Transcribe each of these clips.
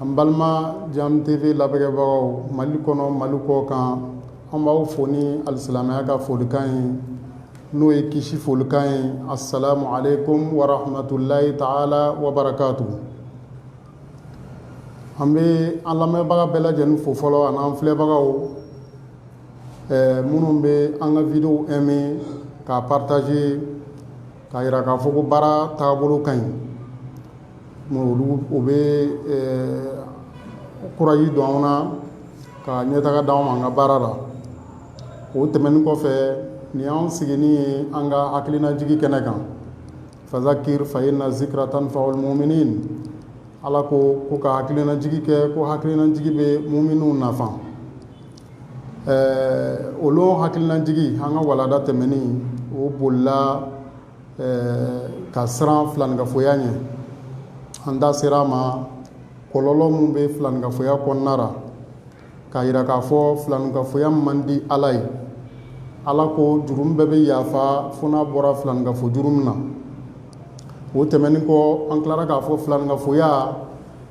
An balima Jam TV labɛnkɛbagaw Mali kɔnɔ Mali kɔkan an b'aw fo ni alisilamɛya ka folikan ye n'o ye kisi folikan ye asalamu aleyikum warahamatulayi taala wa barakatuhu an bɛ an lamɛnbaga bɛɛ lajɛlen fo fɔlɔ ani an filɛbagaw minnu bɛ an ka wideyo aimer k'a partager k'a jira k'a fɔ ko baara taabolo ka ɲi. o bɛ kuraji don an na ka ɲɛtaga d'anw ma an ka baara la o tɛmɛnen kɔfɛ nin y'an sigini ye an ka hakilinajigi kɛnɛ kan fazakir fa inna zikra tanfa'ul muminin ala ko ko ka hakilinajigi kɛ ko hakilinajigi bɛ muminuw nafa ɛɛ olu hakilinajigi an ka walanda tɛmɛnen o bolila ɛɛ ka siran filaninkafoya ɲɛ an da sera a ma kɔlɔlɔ min bɛ filaninkafoya kɔnɔna ra k'a jira k'a fɔ filaninkafoya man di ala ye ala ko jurumu bɛɛ bɛ yafa fo n'a bɔra filaninkafo jurumu na o tɛmɛnen kɔ an tilara k'a fɔ filaninkafoya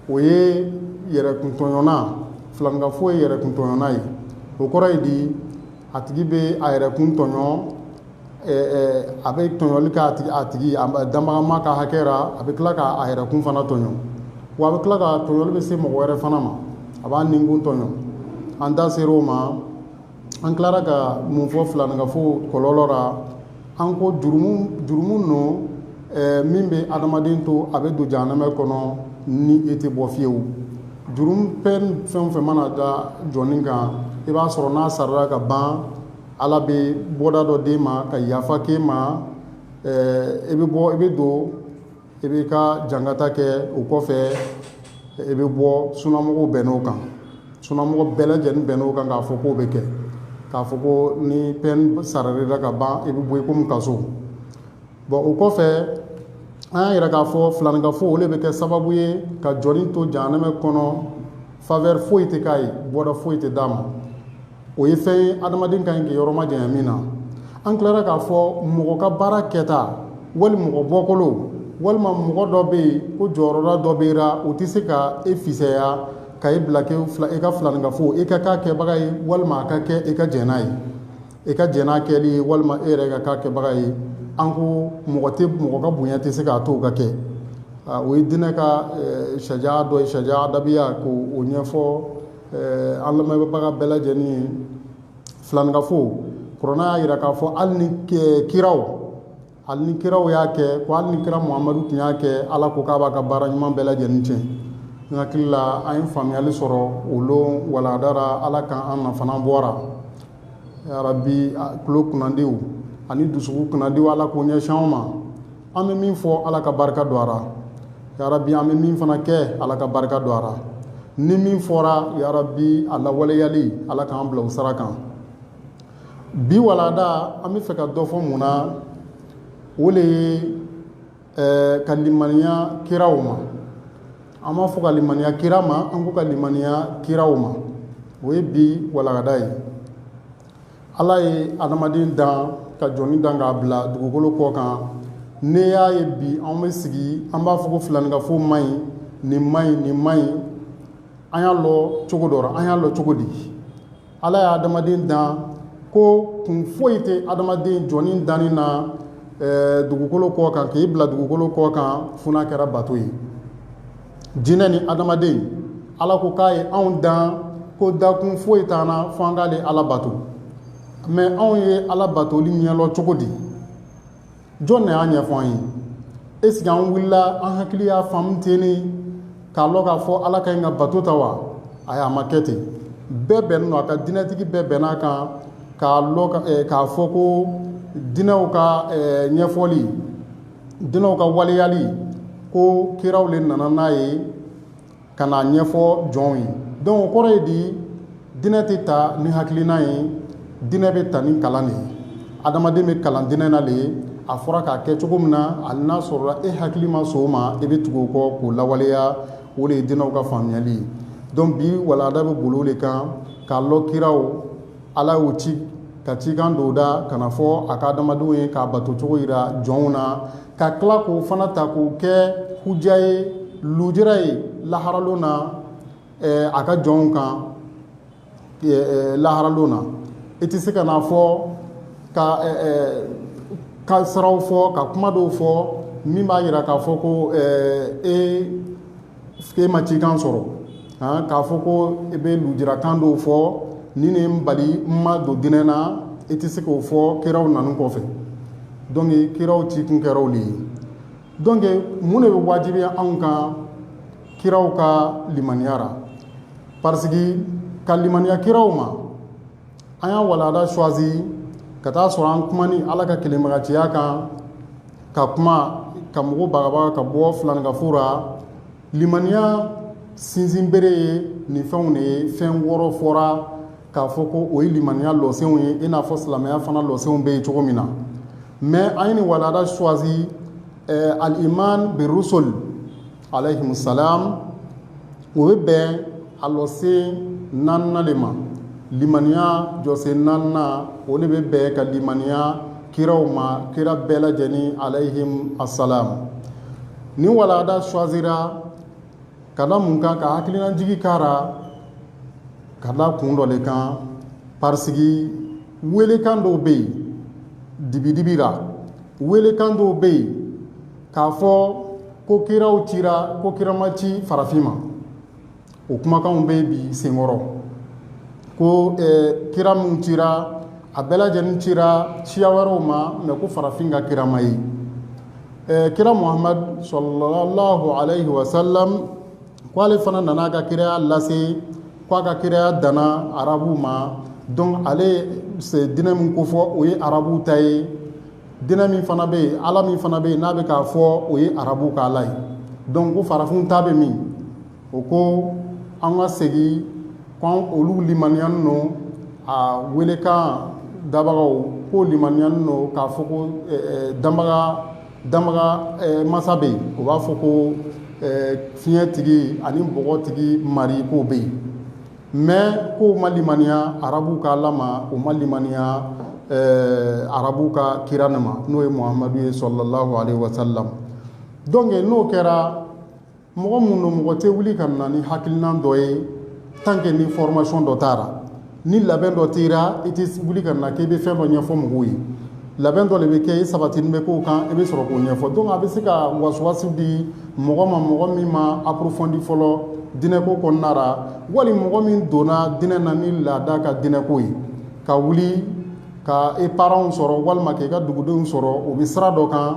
o ye yɛrɛkuntɔɲɔna filaninkafo ye yɛrɛkuntɔɲɔna ye o kɔrɔ ye di A tigi bɛ a yɛrɛ kun tɔɲɔ a bɛ tɔɲɔli kɛ a tigi danbagama ka hakɛ ra a bɛ tila k'a yɛrɛ kun fana tɔɲɔ wa a bɛ tila ka tɔɲɔli bɛ se mɔgɔ wɛrɛ fana ma a b'a nin kun tɔɲɔ an da sera o ma an tilara ka mun fɔ filaninkafo kɔlɔlɔ la An ko jurumu don min bɛ adamaden to a bɛ don jahanamɛ kɔnɔ ni e tɛ bɔ fiyewu jurumu peine fɛn fɛn mana da jɔnnin kan i b'a sɔrɔ n'a sarala ka ban ala bɛ bɔda dɔ d'e ma ka yafa k'e ma i bɛ bɔ i bɛ don i b'i ka jankata kɛ o kɔfɛ i bɛ bɔ sunamɔgɔw bɛnn'o kan sunamɔgɔ bɛɛ lajɛlen bɛnn'o kan k'a fɔ k'o bɛ kɛ k'a fɔ ko ni peine sarala ka ban i bɛ bɔ i komi kaso bon o kɔfɛ an y'a yira k'a fɔ filaninkafo o de bɛ kɛ sababu ye ka jɔnnin to jahanamɛ kɔnɔ faveur foyi tɛ k'a ye bɔda foyi tɛ d'a ma o ye fɛn ye adamaden ka ɲi k'i yɔrɔ majanya min na an tilara k'a fɔ mɔgɔ ka baara kɛta wali mɔgɔ bɔkolo walima mɔgɔ dɔ bɛ yen ko jɔyɔrɔda dɔ bɛ ra o tɛ se ka e fisaya ka e bila fila e ka filaninkafo e ka k'a kɛbaga ye walima a ka kɛ e ka jɛn n'a ye e ka jɛn n'a kɛli ye walima e yɛrɛ ka k'a kɛbaga ye an ko mɔgɔ tɛ mɔgɔ ka bonya tɛ se k'a to o ka kɛ o ye diinɛ ka sariya dɔ ye sariya adabiya k'o ɲɛfɔ Ɛɛ an lamɛnbaga bɛɛ lajɛlen ye filaninkafo kuranɛ y'a jira k'a fɔ hali ni kiraw hali ni kiraw y'a kɛ ko hali ni kira muhamadu tun y'a kɛ ala ko k'a b'a ka baara ɲuman bɛɛ lajɛlen tiɲɛ n hakili la an ye faamuyali sɔrɔ o lon walada ra ala ka an nafana bɔra yarabi tulo kunnadiw ani dusukun kunnadiw ala k'o ɲɛsin an ma an bɛ min fɔ ala ka barika don a ra yarabi an bɛ min fana kɛ ala ka barika don a ra ni min fɔra yarabi a lawaleyali ala k'an bila o sira kan bi walada an bɛ fɛ ka dɔ fɔ mun na o de ye ka limaniya kiraw ma an m'a fɔ ka limaniya kira ma an ko ka limaniya kiraw ma o ye bi walada ye Ala ye adamaden dan ka jɔni dan k'a bila dugukolo kɔ kan n'e y'a ye bi an bɛ sigi an b'a fɔ ko filaninkafo man ɲi nin man ɲi nin man ɲi an y'a lɔ cogo dɔ ra an y'a lɔ cogo di ala ye adamaden dan ko kun foyi tɛ adamaden jɔni danni na dugukolo kɔ kan k'i bila dugukolo kɔ kan fo n'a kɛra bato ye jinɛ ni adamaden ala ko k'a ye anw dan ko dakun foyi t'an na fo an k'ale ala bato mais anw ye ala batoli ɲɛlɔ cogo di jɔn de y'a ɲɛfɔ an ye est-ce que an wulila an hakili y'a faamu ten ne k'a lɔ k'a fɔ ala ka ɲi ka bato tan wa ayi a ma kɛ ten bɛɛ bɛnnen don a kan dinɛtigi bɛɛ bɛnn'a kan k'a fɔ ko dinɛw ka ɲɛfɔli dinɛw ka waleyali ko kiraw de nana n'a ye ka n'a ɲɛfɔ jɔnw ye donc o kɔrɔ ye di dinɛ tɛ ta ni hakilina ye dinɛ bɛ ta ni kalan de ye adamaden bɛ kalan dinɛ na de ye a fɔra k'a kɛ cogo min na hali n'a sɔrɔla e hakili ma sɔn o ma i bɛ tugu o kɔ k'o lawaleya o de ye dinɛw ka faamuyali ye donc bi walanda bɛ boli o de kan k'a lɔ kiraw ala y'u ci ka cikan don u da ka n'a fɔ a ka adamadenw ye k'a bato cogo yira jɔnw na ka tila k'o fana ta k'o kɛ huja ye lujura ye laharalon na a ka jɔnw kan laharalon na i tɛ se ka n'a fɔ ka ka siraw fɔ ka kuma dɔw fɔ min b'a jira k'a fɔ ko ee e ma cikan sɔrɔ k'a fɔ ko e bɛ lujurakan dɔw fɔ nin ne n bali n ma don dinɛ na e tɛ se k'o fɔ kiraw nanen kɔfɛ donc kiraw cikun kɛra o de ye donc mun de bɛ wajibiya anw kan kiraw ka limaniya ra parce que ka limaniya kiraw ma an y'a walanda choisi ka t'a sɔrɔ an kuma ni ala ka kelenbagatiya kan ka kuma ka mɔgɔw bagabaga ka bɔ filankafo la limaniya sinsin bere ye nin fɛnw de ye fɛn wɔɔrɔ fɔra k'a fɔ ko o ye limaniya lɔsenw ye i n'a fɔ silamɛya fana lɔsenw bɛ yen cogo min na mais an ye nin walanda choisi eh, al iman bi rusul Alayhimu salam o bɛ bɛn a lɔsen 4 nan de ma limaniya jɔsen 4 nan o de bɛ bɛn ka limaniya kiraw ma kira bɛɛ lajɛlen alayihim asalam nin walanda choisira ka da mun kan ka hakilinajigi k'a ra ka da kun dɔ de kan parce que welekan dɔw bɛ yen dibidibi la welekan dɔw bɛ yen k'a fɔ ko kiraw cira ko kira ma ci farafin ma o kumakanw bɛ bi senkɔrɔ ko kira minnu cira a bɛɛ lajɛlen cira siya wɛrɛw ma mais ko farafin ka kira ma ye kira muhamadu sallallahu alayhi wa sallam ko ale fana nana a ka kiraya lase k' a ka kiraya danna arabuw ma donc ale ye diinɛ min kofɔ o ye arabuw ta ye Diinɛ min fana bɛ yen, Ala min fana bɛ yen n'a bɛ k'a fɔ o ye arabuw ka Ala ye donc ko farafinw ta bɛ min? O ko an ka segin ko olu limaniyani don a welekan dabagaw k'o limaniyani don k'a fɔ ko danbaga danbaga masa bɛ yen o b'a fɔ ko fiɲɛ tigi ani bɔgɔ tigi mari k'o bɛ yen mais k'u ma limaniya arabuw ka ala ma u ma limaniya eh, arabuw ka kira nin ma n'o ye muhamadu ye sallallahu alayhi wa sallam donc n'o kɛra mɔgɔ minnu don mɔgɔ tɛ wuli ka na ni hakilinan dɔ ye tant que ni formation dɔ t'a ra ni labɛn dɔ t'i ra i tɛ wuli ka na k'i bɛ fɛn dɔ ɲɛfɔ mɔgɔw ye labɛn dɔ de bɛ kɛ i sabatini bɛ k'o kan i bɛ sɔrɔ k'o ɲɛfɔ donc a bɛ se ka wasuwasu di mɔgɔ ma mɔgɔ min ma approfondi fɔlɔ dinɛko kɔnɔna ra wali mɔgɔ min donna dinɛ na ni laada ka dinɛko ye ka wuli ka i parents sɔrɔ walima k' i ka dugudenw sɔrɔ o bɛ sira dɔ kan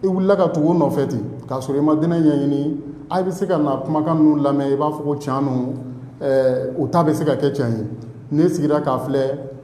i wulila ka tugu o nɔfɛ ten k'a sɔrɔ i ma dinɛ ɲɛɲini a bɛ se ka na kumakan ninnu lamɛn i b'a fɔ ko can don o ta bɛ se ka kɛ can ye ne sigira k'a filɛ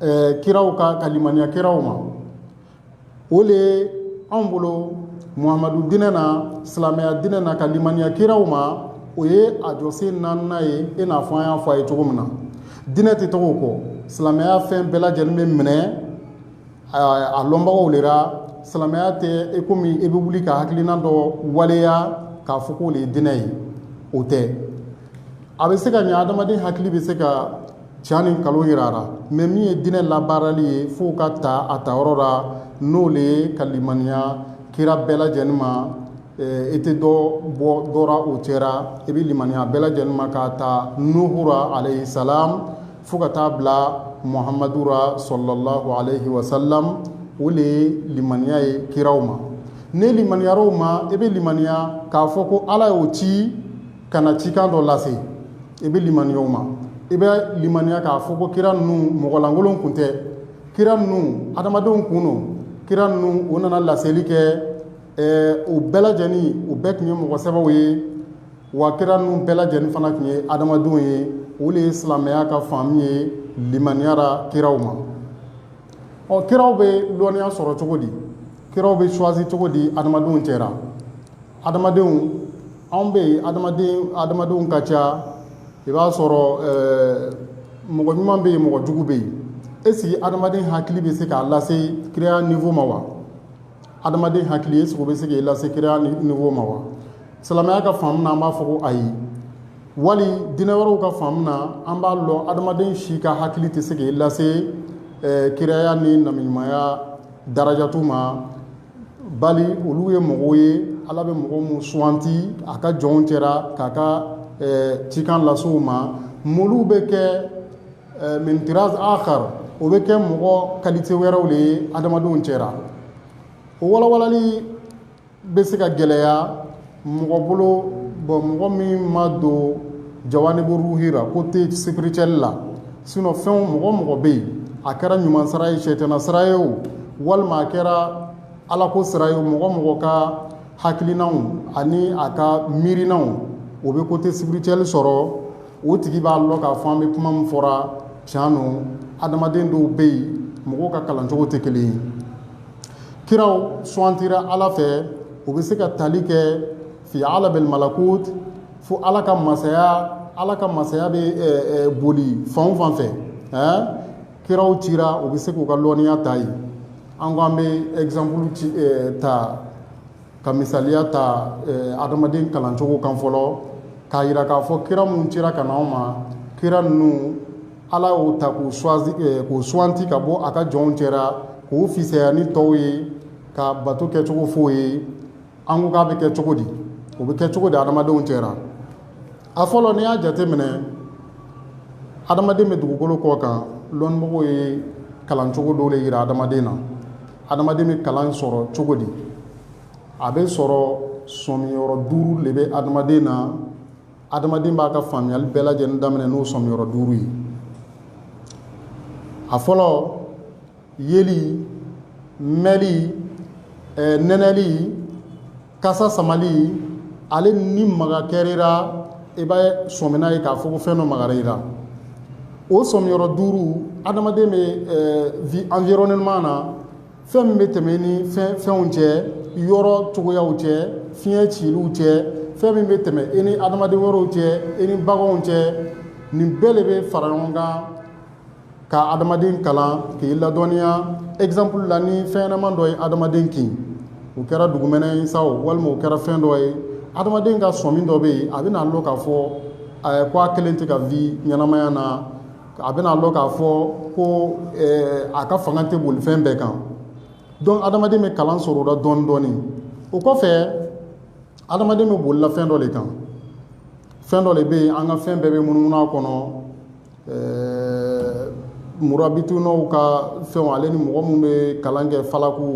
ɛɛ kiraw ka ka limaniya kiraw ma o de ye anw bolo muhamadu dinɛ na silamɛya dinɛ na ka limaniya kiraw ma o ye a jɔsen naaninan ye i n'a fɔ an y'a fɔ a ye cogo min na dinɛ tɛ tɔgɔ kɔ silamɛya fɛn bɛɛ lajɛlen bɛ minɛ a lɔnbagaw de la silamɛya tɛ i komi i bɛ wuli ka hakilina dɔ waleya k'a fɔ k'o de ye dinɛ ye o tɛ a bɛ se ka ɲɛ adamaden hakili bɛ se ka Can ni nkalon yira a ra mɛ min ye diinɛ labaarali ye f'o ka taa a ta yɔrɔ la n'o le ye ka limaniya kira bɛɛ lajɛlen ma i tɛ dɔ bɔ dɔ ra o cɛra i bɛ limaniya bɛɛ lajɛlen ma k'a ta nuhu ra alayhi salam fo ka taa bila muhamadu ra sallallahu alayhi wa sallam o le ye limaniya ye kiraw ma n'i limaniyara o ma i bɛ limaniya k'a fɔ ko ala y'o ci ka na cikan dɔ lase i bɛ limaniya o ma i bɛ limaniya k'a fɔ ko kira ninnu mɔgɔ lankolon kun tɛ kira ninnu adamadenw kun don kira ninnu u nana laseli kɛ u bɛɛ lajɛlen u bɛɛ kun ye mɔgɔ sɛbɛw ye wa kira ninnu bɛɛ lajɛlen fana kun ye adamadenw ye o le ye silamɛya ka faamu ye limaniya ra kiraw ma ɔ kiraw bɛ lɔnniya sɔrɔ cogo di kiraw bɛ choisi cogo di adamadenw cɛra Adamadenw anw bɛ yen adamadenw ka ca i b'a sɔrɔ mɔgɔ ɲuman bɛ yen mɔgɔ jugu bɛ yen est-ce que adamaden hakili bɛ se k'a lase kiraya niveau ma wa adamaden hakili est-ce que o bɛ se k'i lase kiraya niveau ma wa silamɛya ka faamu na an b'a fɔ ko ayi wali diinɛ wɛrɛw ka faamu na an b'a lɔn adamaden si ka hakili tɛ se k'i lase kiraya ni nabiɲumanya darajatu ma bali olu ye mɔgɔw ye ala bɛ mɔgɔ minnu suganti a ka jɔnw cɛra k'a ka ɛɛ cikan lase u ma olu bɛ kɛ ɛɛ min tiraz akhar o bɛ kɛ mɔgɔ qualité wɛrɛw le ye adamadenw cɛra o walawalali bɛ se ka gɛlɛya mɔgɔ bolo bon mɔgɔ min ma don jawanibu ruhi ra côté spirituel la sinon fɛn mɔgɔ o mɔgɔ bɛ yen a kɛra ɲuman sira ye sɛtana sira ye o walima a kɛra alako sira ye mɔgɔ o mɔgɔ ka hakilinaw ani a ka miirinaw o bɛ côté spirituel sɔrɔ o tigi b'a lɔn k'a fɔ an bɛ kuma min fɔra can don adamaden dɔw bɛ yen mɔgɔ ka kalancogo tɛ kelen ye kiraw suwantira ala fɛ u bɛ se ka tali kɛ fi alamil malakut fo ala ka masaya ala ka masaya bɛ boli fan o fan fɛ kiraw cira u bɛ se k'u ka lɔnniya ta yen an ko an bɛ exemple ta ka misaliya ta adamaden kalancogo kan fɔlɔ k'a yira k'a fɔ kira minnu cira ka na an ma kira ninnu ala y'o ta k'u choisi k'u suwanti ka bɔ a ka jɔnw cɛra k'u fisaya ni tɔw ye ka bato kɛcogo f'o ye an ko k'a bɛ kɛ cogo di o bɛ kɛ cogo di adamadenw cɛra a fɔlɔ n'i y'a jateminɛ adamaden bɛ dugukolo kɔ kan lɔnnimɔgɔw ye kalancogo dɔw le yira adamaden na Adamaden bɛ kalan sɔrɔ cogo di a bɛ sɔrɔ sɔmi yɔrɔ duuru de bɛ adamaden na adamaden b'a ka faamuyali bɛɛ lajɛlen daminɛ n'o sɔmi yɔrɔ duuru ye a fɔlɔ yeli mɛli nɛnɛli kasa samali ale ni maga kɛra i ra i b'a sɔmina ye k'a fɔ ko fɛn dɔ magara i ra o sɔmiyɔrɔ duuru adamaden bɛ vi environnement na fɛn min bɛ tɛmɛ i ni fɛnw cɛ yɔrɔ cogoyaw cɛ fiɲɛ ciliw cɛ fɛn min bɛ tɛmɛ i ni adamaden wɛrɛw cɛ i ni baganw cɛ nin bɛɛ de bɛ fara ɲɔgɔn kan ka adamaden kalan k'i ladɔnniya exemple la ni fɛn ɲɛnama dɔ ye adamaden kin o kɛra dugumɛnɛ ye sa walima o kɛra fɛn dɔ ye adamaden ka sɔmi dɔ bɛ yen a bɛ n'a lɔn k'a fɔ ko a kelen tɛ ka vie ɲɛnamaya na a bɛ n'a lɔn k'a fɔ ko a ka fanga tɛ boli fɛn bɛɛ kan donc adamaden bɛ kalan sɔrɔ o la dɔɔni dɔɔni o kɔfɛ adamaden bɛ bolila fɛn dɔ de kan fɛn dɔ de bɛ yen an ka fɛn bɛɛ bɛ munumunu a kɔnɔ Ɛɛ murabitunaw ka fɛnw ale ni mɔgɔ minnu bɛ kalan kɛ falaku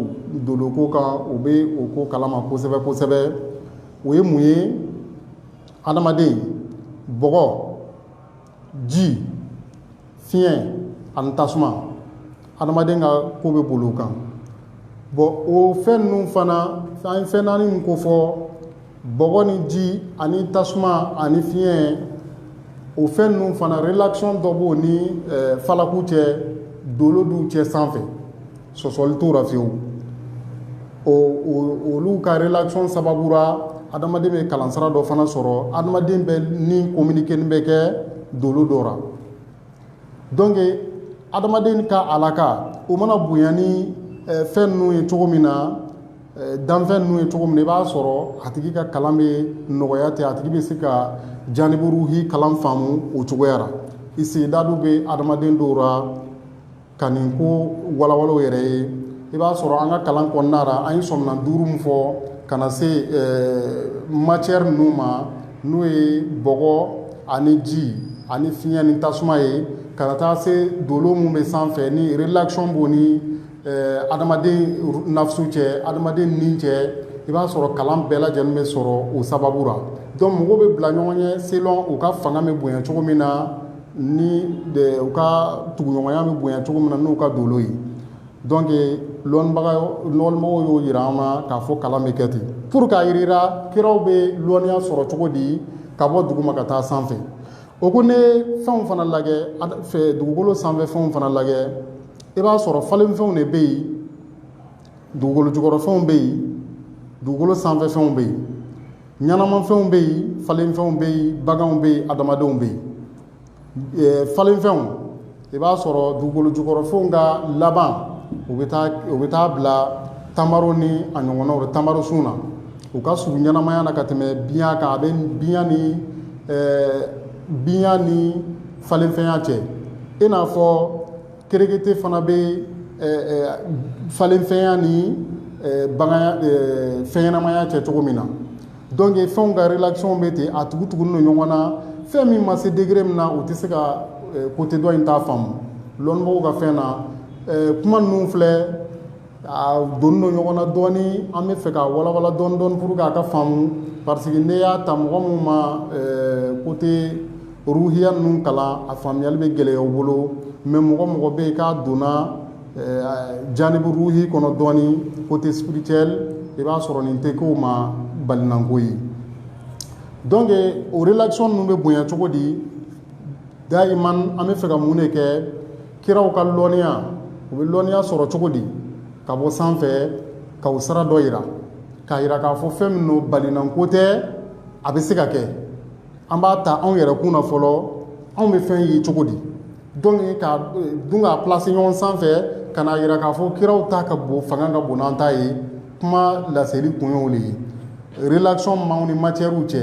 doloko kan u bɛ o ko kalama kosɛbɛ kosɛbɛ o ye mun ye adamaden bɔgɔ ji fiɲɛ ani tasuma adamaden ka ko bɛ boli o kan bon o fɛn ninnu fana an ye fɛn naani min kofɔ bɔgɔ ni ji ani tasuma ani fiɲɛ o fɛn ninnu fana relation dɔ b'o ni falaku cɛ dolo du cɛ sanfɛ sɔsɔli t'o ra fewu olu ka relation sababu ra adamaden bɛ kalansira dɔ fana sɔrɔ adamaden bɛ ni communiquer bɛ kɛ dolo dɔ donc adamaden ka alaka o mana bonya ni eh, fɛn ninnu ye cogo min na eh, danfɛn ninnu ye cogo min na i b'a sɔrɔ a tigi ka kalan bɛ nɔgɔya ten a tigi bɛ se ka janibu ruhi kalan faamu o cogoya ra isidadu bɛ adamaden dɔw ra Ka nin ko walawala u yɛrɛ ye, i b'a sɔrɔ an ka kalan kɔnɔna la, an ye sɔminan duuru min fɔ ka na se matière ninnu ma n'o ye bɔgɔ ani ji ani fiɲɛ ni tasuma ye ka na taa se dolo minnu bɛ sanfɛ ni relation b'o ni adamaden nafsu cɛ, adamaden ni cɛ, i b'a sɔrɔ kalan bɛɛ lajɛlen bɛ sɔrɔ o sababu la donc mɔgɔw bɛ bila ɲɔgɔn ɲɛ selon u ka fanga bɛ bonya cogo min na ni u ka tuguɲɔgɔnya bɛ bonya cogo min na n'u ka dolo ye donc lɔnbaga lɔnmɔgɔw y'o yira an na k'a fɔ kalan bɛ kɛ ten pour k'a yira i ra kiraw bɛ lɔnniya sɔrɔ cogo di ka bɔ duguma ka taa sanfɛ o ko ne fɛnw fana lajɛ dugukolo sanfɛ fɛnw fana lajɛ i b'a sɔrɔ falenfɛnw de bɛ yen dugukolo jukɔrɔfɛnw bɛ yen dugukolo sanfɛfɛnw bɛ yen ɲɛnamafɛnw bɛ yen falenfɛnw bɛ yen baganw bɛ yen adamadenw bɛ yen eh, falenfɛnw i b'a sɔrɔ dugukolo jukɔrɔfɛnw ka laban u bɛ taa u bɛ taa bila tamaro ni a ɲɔgɔnnaw la tamaro sun na u ka surun ɲɛnamaya na ka tɛmɛ biɲa kan a bɛ biɲa ni eh, biɲa ni falenfɛnya cɛ i n'a fɔ Kerekete fana bɛ falenfɛnya ni fɛnɲɛnamaya cɛ cogo min na donc fɛnw ka relation bɛ ten a tugutugulen don ɲɔgɔn na fɛn min ma se degré min na u tɛ se ka côté dɔ in t'a faamu lɔnnibagaw ka fɛn na kuma ninnu filɛ A donnen don ɲɔgɔn na dɔɔnin an bɛ fɛ ka walawala dɔɔnin dɔɔnin pour k'a ka faamu parce que n'i y'a ta mɔgɔ min ma côté ruhiya ninnu kalan a faamuyali bɛ gɛlɛya o bolo mais mɔgɔ mɔgɔ bɛ yen k'a donna janibu ruhi kɔnɔ dɔɔnin côté spirituel i b'a sɔrɔ nin tɛ k'o ma balinanko ye donc o relation ninnu bɛ bonya cogo di dayiman an bɛ fɛ ka mun de kɛ kiraw ka lɔnniya u bɛ lɔnniya sɔrɔ cogo di ka bɔ sanfɛ ka o sira dɔ yira k'a yira k'a fɔ fɛn min don balinanko tɛ a bɛ se ka kɛ an b'a ta anw yɛrɛ kun na fɔlɔ anw bɛ fɛn ye cogo di donc ka dun k'a placer ɲɔgɔn sanfɛ ka n'a yira k'a fɔ kiraw ta ka bon fanga ka bon n'an ta ye kuma laseli kun y'o de ye relation maaw ni matiɛriw cɛ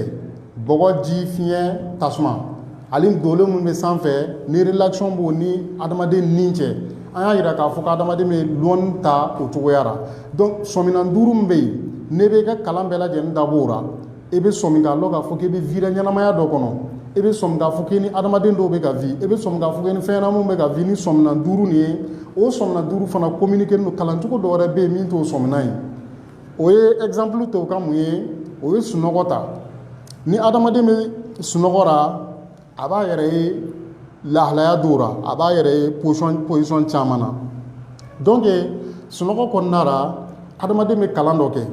bɔgɔ ji fiɲɛ tasuma Hali dolo minnu bɛ sanfɛ ni relation b'o ni adamaden ni cɛ an y'a yira k'a fɔ ko adamaden bɛ lɔnni ta o cogoya ra donc sɔmina duuru min bɛ yen ne bɛ ka kalan bɛɛ lajɛlen dabɔ o la i bɛ sɔmi k'a dɔn k'a fɔ k'i bɛ vi ɲɛnamaya dɔ kɔnɔ i bɛ sɔmi k'a fɔ k'i ni adamaden dɔw bɛ ka vi i bɛ sɔmi k'a fɔ k'i ni fɛnɲɛnamaw bɛ ka vi ni sɔmina duuru nin ye o sɔmina duuru fana communiquélen don kalancogo dɔ wɛrɛ bɛ yen min t'o sɔmina ye o ye exemple to ka mun ye o ye sunɔgɔ ta ni adamaden bɛ sunɔgɔ la a b'a yɛrɛ ye lahalaya dɔw la a b'a yɛrɛ ye position caman na donc sunɔgɔ kɔnɔna la adamaden bɛ kalan dɔ kɛ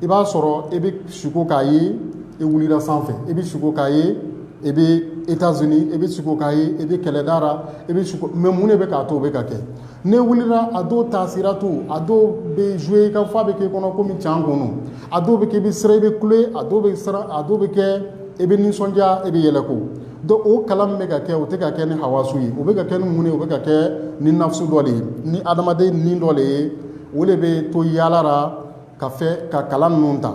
i b'a sɔrɔ i bɛ siko k'a ye i wulila sanfɛ i bɛ siko k'a ye i bɛ États-Unis i bɛ siko k'a ye i bɛ kɛlɛda la i bɛ siko mais mun de bɛ k'a to o bɛ ka kɛ ne wulila a dɔw taasiratu a dɔw bɛ zuwe ka fɔ a bɛ k'i kɔnɔ kɔmi can kɔnɔ a dɔw bɛ kɛ i bɛ siran i bɛ kule a dɔw bɛ kɛ i bɛ nisɔndiya i bɛ yɛlɛko dɔn o kalan min bɛ ka kɛ o tɛ ka kɛ ni hawasu ye o bɛ ka kɛ ni mun ye o bɛ ka kɛ ni nafsu dɔ de ye ni adamaden ni dɔ de ye o de bɛ to yaala la ka fɛ ka kalan ninnu ta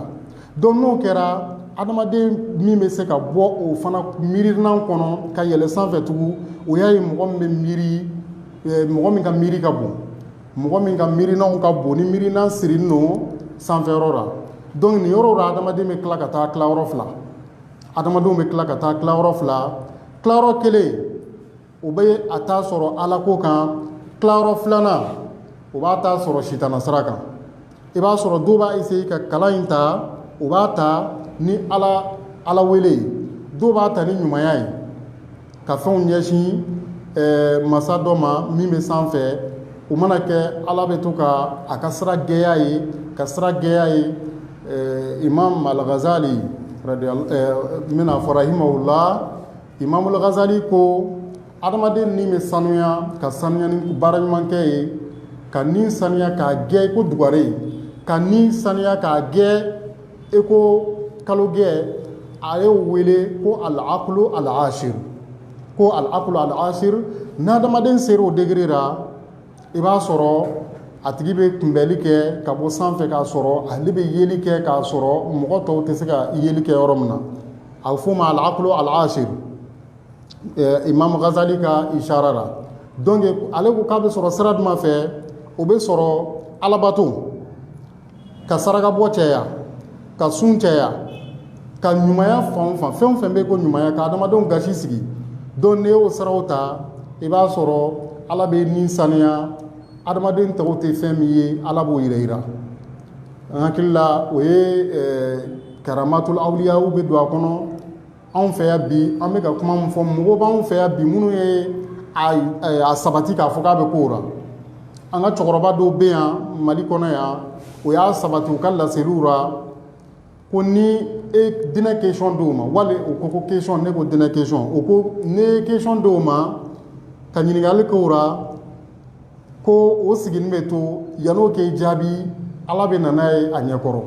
dɔn n'o kɛra adamaden min bɛ se ka bɔ o fana miirinan kɔnɔ ka yɛlɛ sanfɛ tugun o y'a ye mɔgɔ min bɛ miiri mɔgɔ min ka miiri ka bon mɔgɔ min ka miirinanw ka bon ni miirinan sirilen don sanfɛ yɔrɔ la dɔnku nin yɔrɔ la adamadenw bɛ tila ka taa tilayɔrɔ fila adamadenw bɛ tila ka taa tilayɔrɔ fila tilayɔrɔ kelen o bɛ a t'a sɔrɔ alako kan tilayɔrɔ filanan o b'a t'a sɔrɔ sitana sira kan i b'a sɔrɔ dɔw b'a essayer ka kalan in ta u b'a ta ni ala ala wele ye dɔw b'a ta ni ɲumanya ye ka fɛnw ɲɛsin eh, masa dɔ ma min bɛ sanfɛ o mana kɛ ala bɛ to ka a ka sira gɛya ye ka sira gɛya ye eh, imam al-ghazali eh, n bɛna a fɔ rahimahullah Imam al-ghazali ko adamaden ni bɛ sanuya ka sanuya ni baara ɲuman kɛ ye ka ni sanuya k'a gɛ i ko dugare ka ni sanuya k'a gɛ i ko kalo gɛ a ye o wele ko al-aqlu al-ashir ko al-aqlu al-ashir n'adamaden sera o degré la i b'a sɔrɔ a tigi bɛ kunbɛnli kɛ ka bɔ sanfɛ k'a sɔrɔ ale bɛ yeli kɛ k'a sɔrɔ mɔgɔ tɔw tɛ se ka yeli kɛ yɔrɔ min na a bɛ f'o ma al-aqlu al-ashir imam ghazali ka ishara la dɔnku ale ko k'a bɛ sɔrɔ sira jumɛn fɛ o bɛ sɔrɔ alabato ka saraka bɔ cɛya ka sun cɛya ka ɲumanya fan fan fɛn o fɛn bɛ ko ɲumanya ka adamadenw gasi sigi dɔnku n'i y'o siraw ta i b'a sɔrɔ ala bɛ ni saniya adamaden tɔw tɛ fɛn min ye ala b'o yira yira an hakili la o ye karamatul awliyaw bɛ don a kɔnɔ anw fɛ yan bi an bɛ ka kuma min fɔ mɔgɔw b'anw fɛ yan bi minnu ye a sabati k'a fɔ k'a bɛ k'o la an ka cɛkɔrɔba dɔw bɛ yan mali kɔnɔ yan o y'a sabati u ka laseliw la ko n'i ye diinɛ kesɔn d'o ma wali u ko ko kesɔn ne ko diinɛ kesɔn o ko n'i ye kesɔn d'o ma ka ɲininkali k'o la ko o sigilen bɛ to yan'o k'e jaabi ala bɛ na n'a ye a ɲɛkɔrɔ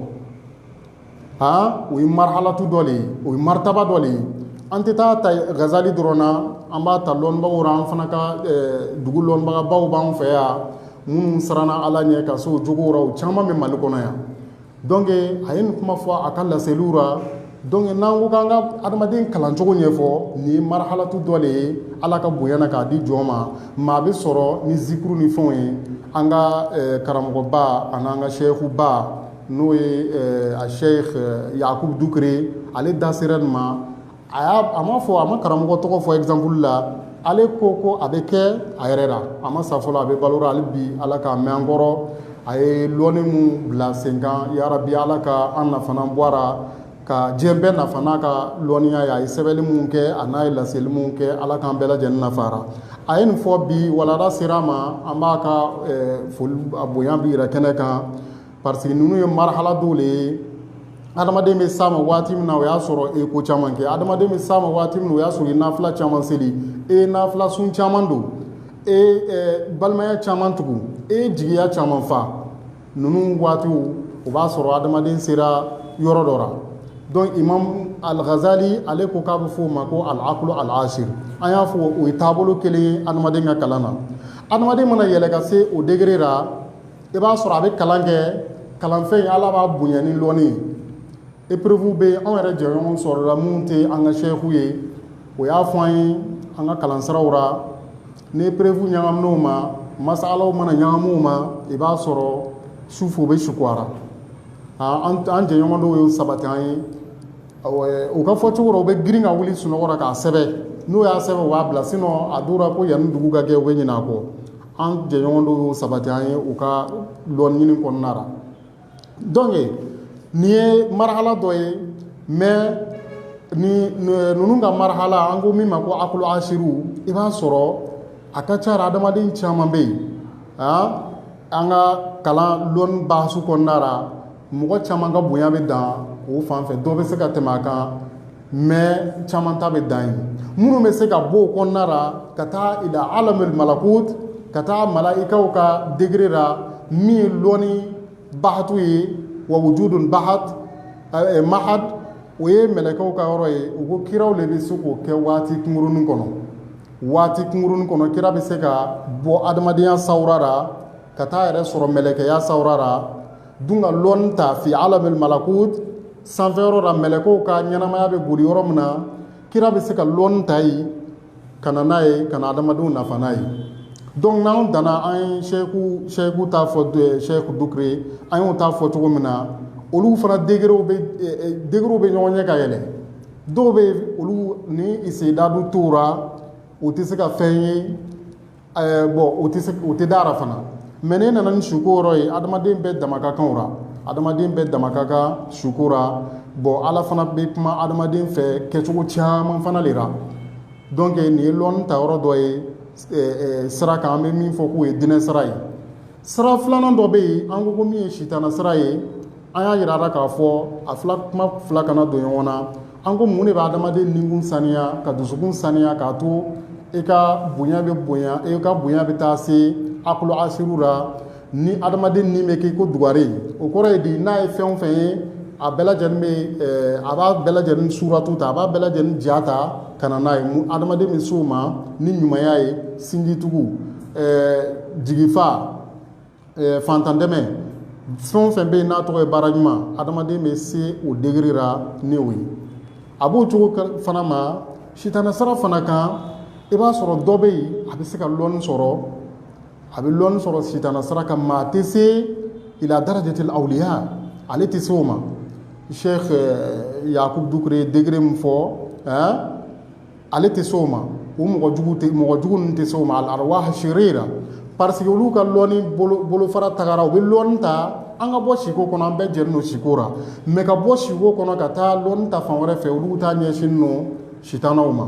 aa o ye marahalatu dɔ le ye o ye martaba dɔ le ye an tɛ taa ta gazali dɔrɔn na an b'a ta lɔnnibagaw la an fana ka dugu lɔnnibagabaw b'an fɛ yan minnu siranna ala ɲɛ ka s'o jogow la o caman bɛ mali kɔnɔ yan donc a ye nin kuma fɔ a ka laseliw la donc n'an ko k'an ka adamaden kalancogo ɲɛfɔ nin ye marahalatu dɔ le ye ala ka bonya na k'a di jɔn ma maa bɛ sɔrɔ ni zikuru ni fɛnw ye an ka karamɔgɔba ani an ka sɛkuba n'o ye a sheikh yakubu dukure ale da sera nin ma a ma fɔ a ma karamɔgɔ tɔgɔ fɔ exemple la ale ko ko a bɛ kɛ a yɛrɛ la a ma sa fɔlɔ a bɛ balo la hali bi ala k'a mɛn an kɔrɔ a ye lɔnni min bila sen kan yarabi ala ka an nafa bɔ a ra ka diɲɛ bɛɛ nafa n'a ka lɔnniya ye a ye sɛbɛnni minnu kɛ a n'a ye laseli min kɛ ala k'an bɛɛ lajɛlen nafa a ra a ye nin fɔ bi walanda sera a ma an b'a ka bonya bɛɛ yira kɛnɛ kan parce que ninnu ye marahala dɔw le ye adamaden bɛ s'a ma waati min na o y'a sɔrɔ e ye ko caman kɛ adamaden bɛ s'a ma waati min na o y'a sɔrɔ i ye nafila caman seli e ye nafila sun caman don e ye eh, balimaya caman tugu e ye jigiya caman fa ninnu waatiw o b'a sɔrɔ adamaden sera yɔrɔ dɔ la donc imam al-ghazali ale ko k'a bɛ fɔ o ma ko al-aqlu al-ashir an y'a fɔ o ye taabolo kelen ye adamaden ka kalan na adamaden mana yɛlɛ ka se o degré la i b'a sɔrɔ a bɛ kalan kɛ kalanfɛn in ala b'a bonya ni lɔnni ye épreuve bɛ anw yɛrɛ jɛɲɔgɔn sɔrɔla minnu tɛ an ka seku ye o y'a fɔ an ye an ka kalansiraw la ni épreuve ɲagamina u ma masalaw mana ɲagami u ma i b'a sɔrɔ sufɛ u bɛ sugo a ra an jɛɲɔgɔn dɔw y'o sabati an ye u ka fɔ cogo la u bɛ girin ka wuli sunɔgɔ la k'a sɛbɛn n'o y'a sɛbɛn o b'a bila sinon a dɔw la ko yanni dugu ka gɛ u bɛ ɲinɛ a kɔ an jɛɲɔgɔn dɔw y'o sabati an ye u ka lɔnni ɲini kɔnɔna la donc nin ye marahala dɔ ye mais ninnu ka marahala an ko min ma ko akulu asiru i b'a sɔrɔ a ka ca adamaden caman bɛ yen an ka kalan lɔnni bahasu kɔnɔna la mɔgɔ caman ka bonya bɛ dan o fan fɛ dɔ bɛ se ka tɛmɛ a kan mais caman ta bɛ dan yen minnu bɛ se ka bɔ o kɔnɔna la ka taa ila alamul malakut ka taa malayikaw ka degré la min ye lɔnni bahatu ye wa wujudun bahat mahad o ye mɛlɛkɛw ka yɔrɔ ye u ko kiraw de bɛ se k'o kɛ waati kunkurunin kɔnɔ waati kunkurunin kɔnɔ kira bɛ se ka bɔ adamadenya sawura ra ka taa yɛrɛ sɔrɔ mɛlɛkɛya sawura ra dun ka lɔnni ta fi alamil malakut sanfɛ yɔrɔ la mɛlɛkɛw ka ɲɛnamaya bɛ boli yɔrɔ min na kira bɛ se ka lɔnni ta yen ka na n'a ye ka na adamadenw nafa n'a ye donc n'anw danna an ye seku ta fɔ seku dukure an y'o ta fɔ cogo min na olu fana degerew bɛ ɲɔgɔn ɲɛ ka yɛlɛ dɔw bɛ olu ni isedadu tora u tɛ se ka fɛn ye bɔn o tɛ da ra fana mɛ ne nana ni suko yɔrɔ ye adamaden bɛɛ dama ka kan o ra adamaden bɛɛ dama ka kan suko la bɔn ala fana bɛ kuma adamaden fɛ kɛcogo caman fana de la donc nin ye lɔnni ta yɔrɔ dɔ ye sira kan an bɛ min fɔ k'o ye diinɛ sira ye sira filanan dɔ bɛ yen an ko min ye sitana sira ye an y'a jira k'a fɔ a fila kuma fila kana don ɲɔgɔn na an ko mun de bɛ adamaden nikun saniya ka dusukun saniya k'a to e ka bonya bɛ bonya e ka bonya bɛ taa se akulu asiru la ni adamaden ni bɛ k'i ko dugare o kɔrɔ ye di n'a ye fɛn o fɛn ye a bɛɛ lajɛlen bɛ a b'a bɛɛ lajɛlen suratu ta a b'a bɛɛ lajɛlen ja ta ka na n'a ye adamaden bɛ s'o ma ni ɲumanya ye sinjitugu jigifa fantandɛmɛ fɛn o fɛn bɛ yen n'a tɔgɔ ye baara ɲuman adamaden bɛ se o degere ra n'o ye a b'o cogo fana ma sitana sira fana kan i b'a sɔrɔ dɔ bɛ yen a bɛ se ka lɔnni sɔrɔ a bɛ lɔnni sɔrɔ sitana sira kan maa tɛ se ila darajatil awliya ale tɛ se o ma seku yakubu dukure degere min fɔ ale tɛ se o ma o mɔgɔ jugu mɔgɔ jugu ninnu tɛ se o ma alarwah sirira parce que olu ka lɔnni bolofara tagara u bɛ lɔnni ta an ka bɔ siko kɔnɔ an bɛɛ jɛlen don siko la mɛ ka bɔ siko kɔnɔ ka taa lɔnni ta fan wɛrɛ fɛ olu ta ɲɛsinnen don sitanaw ma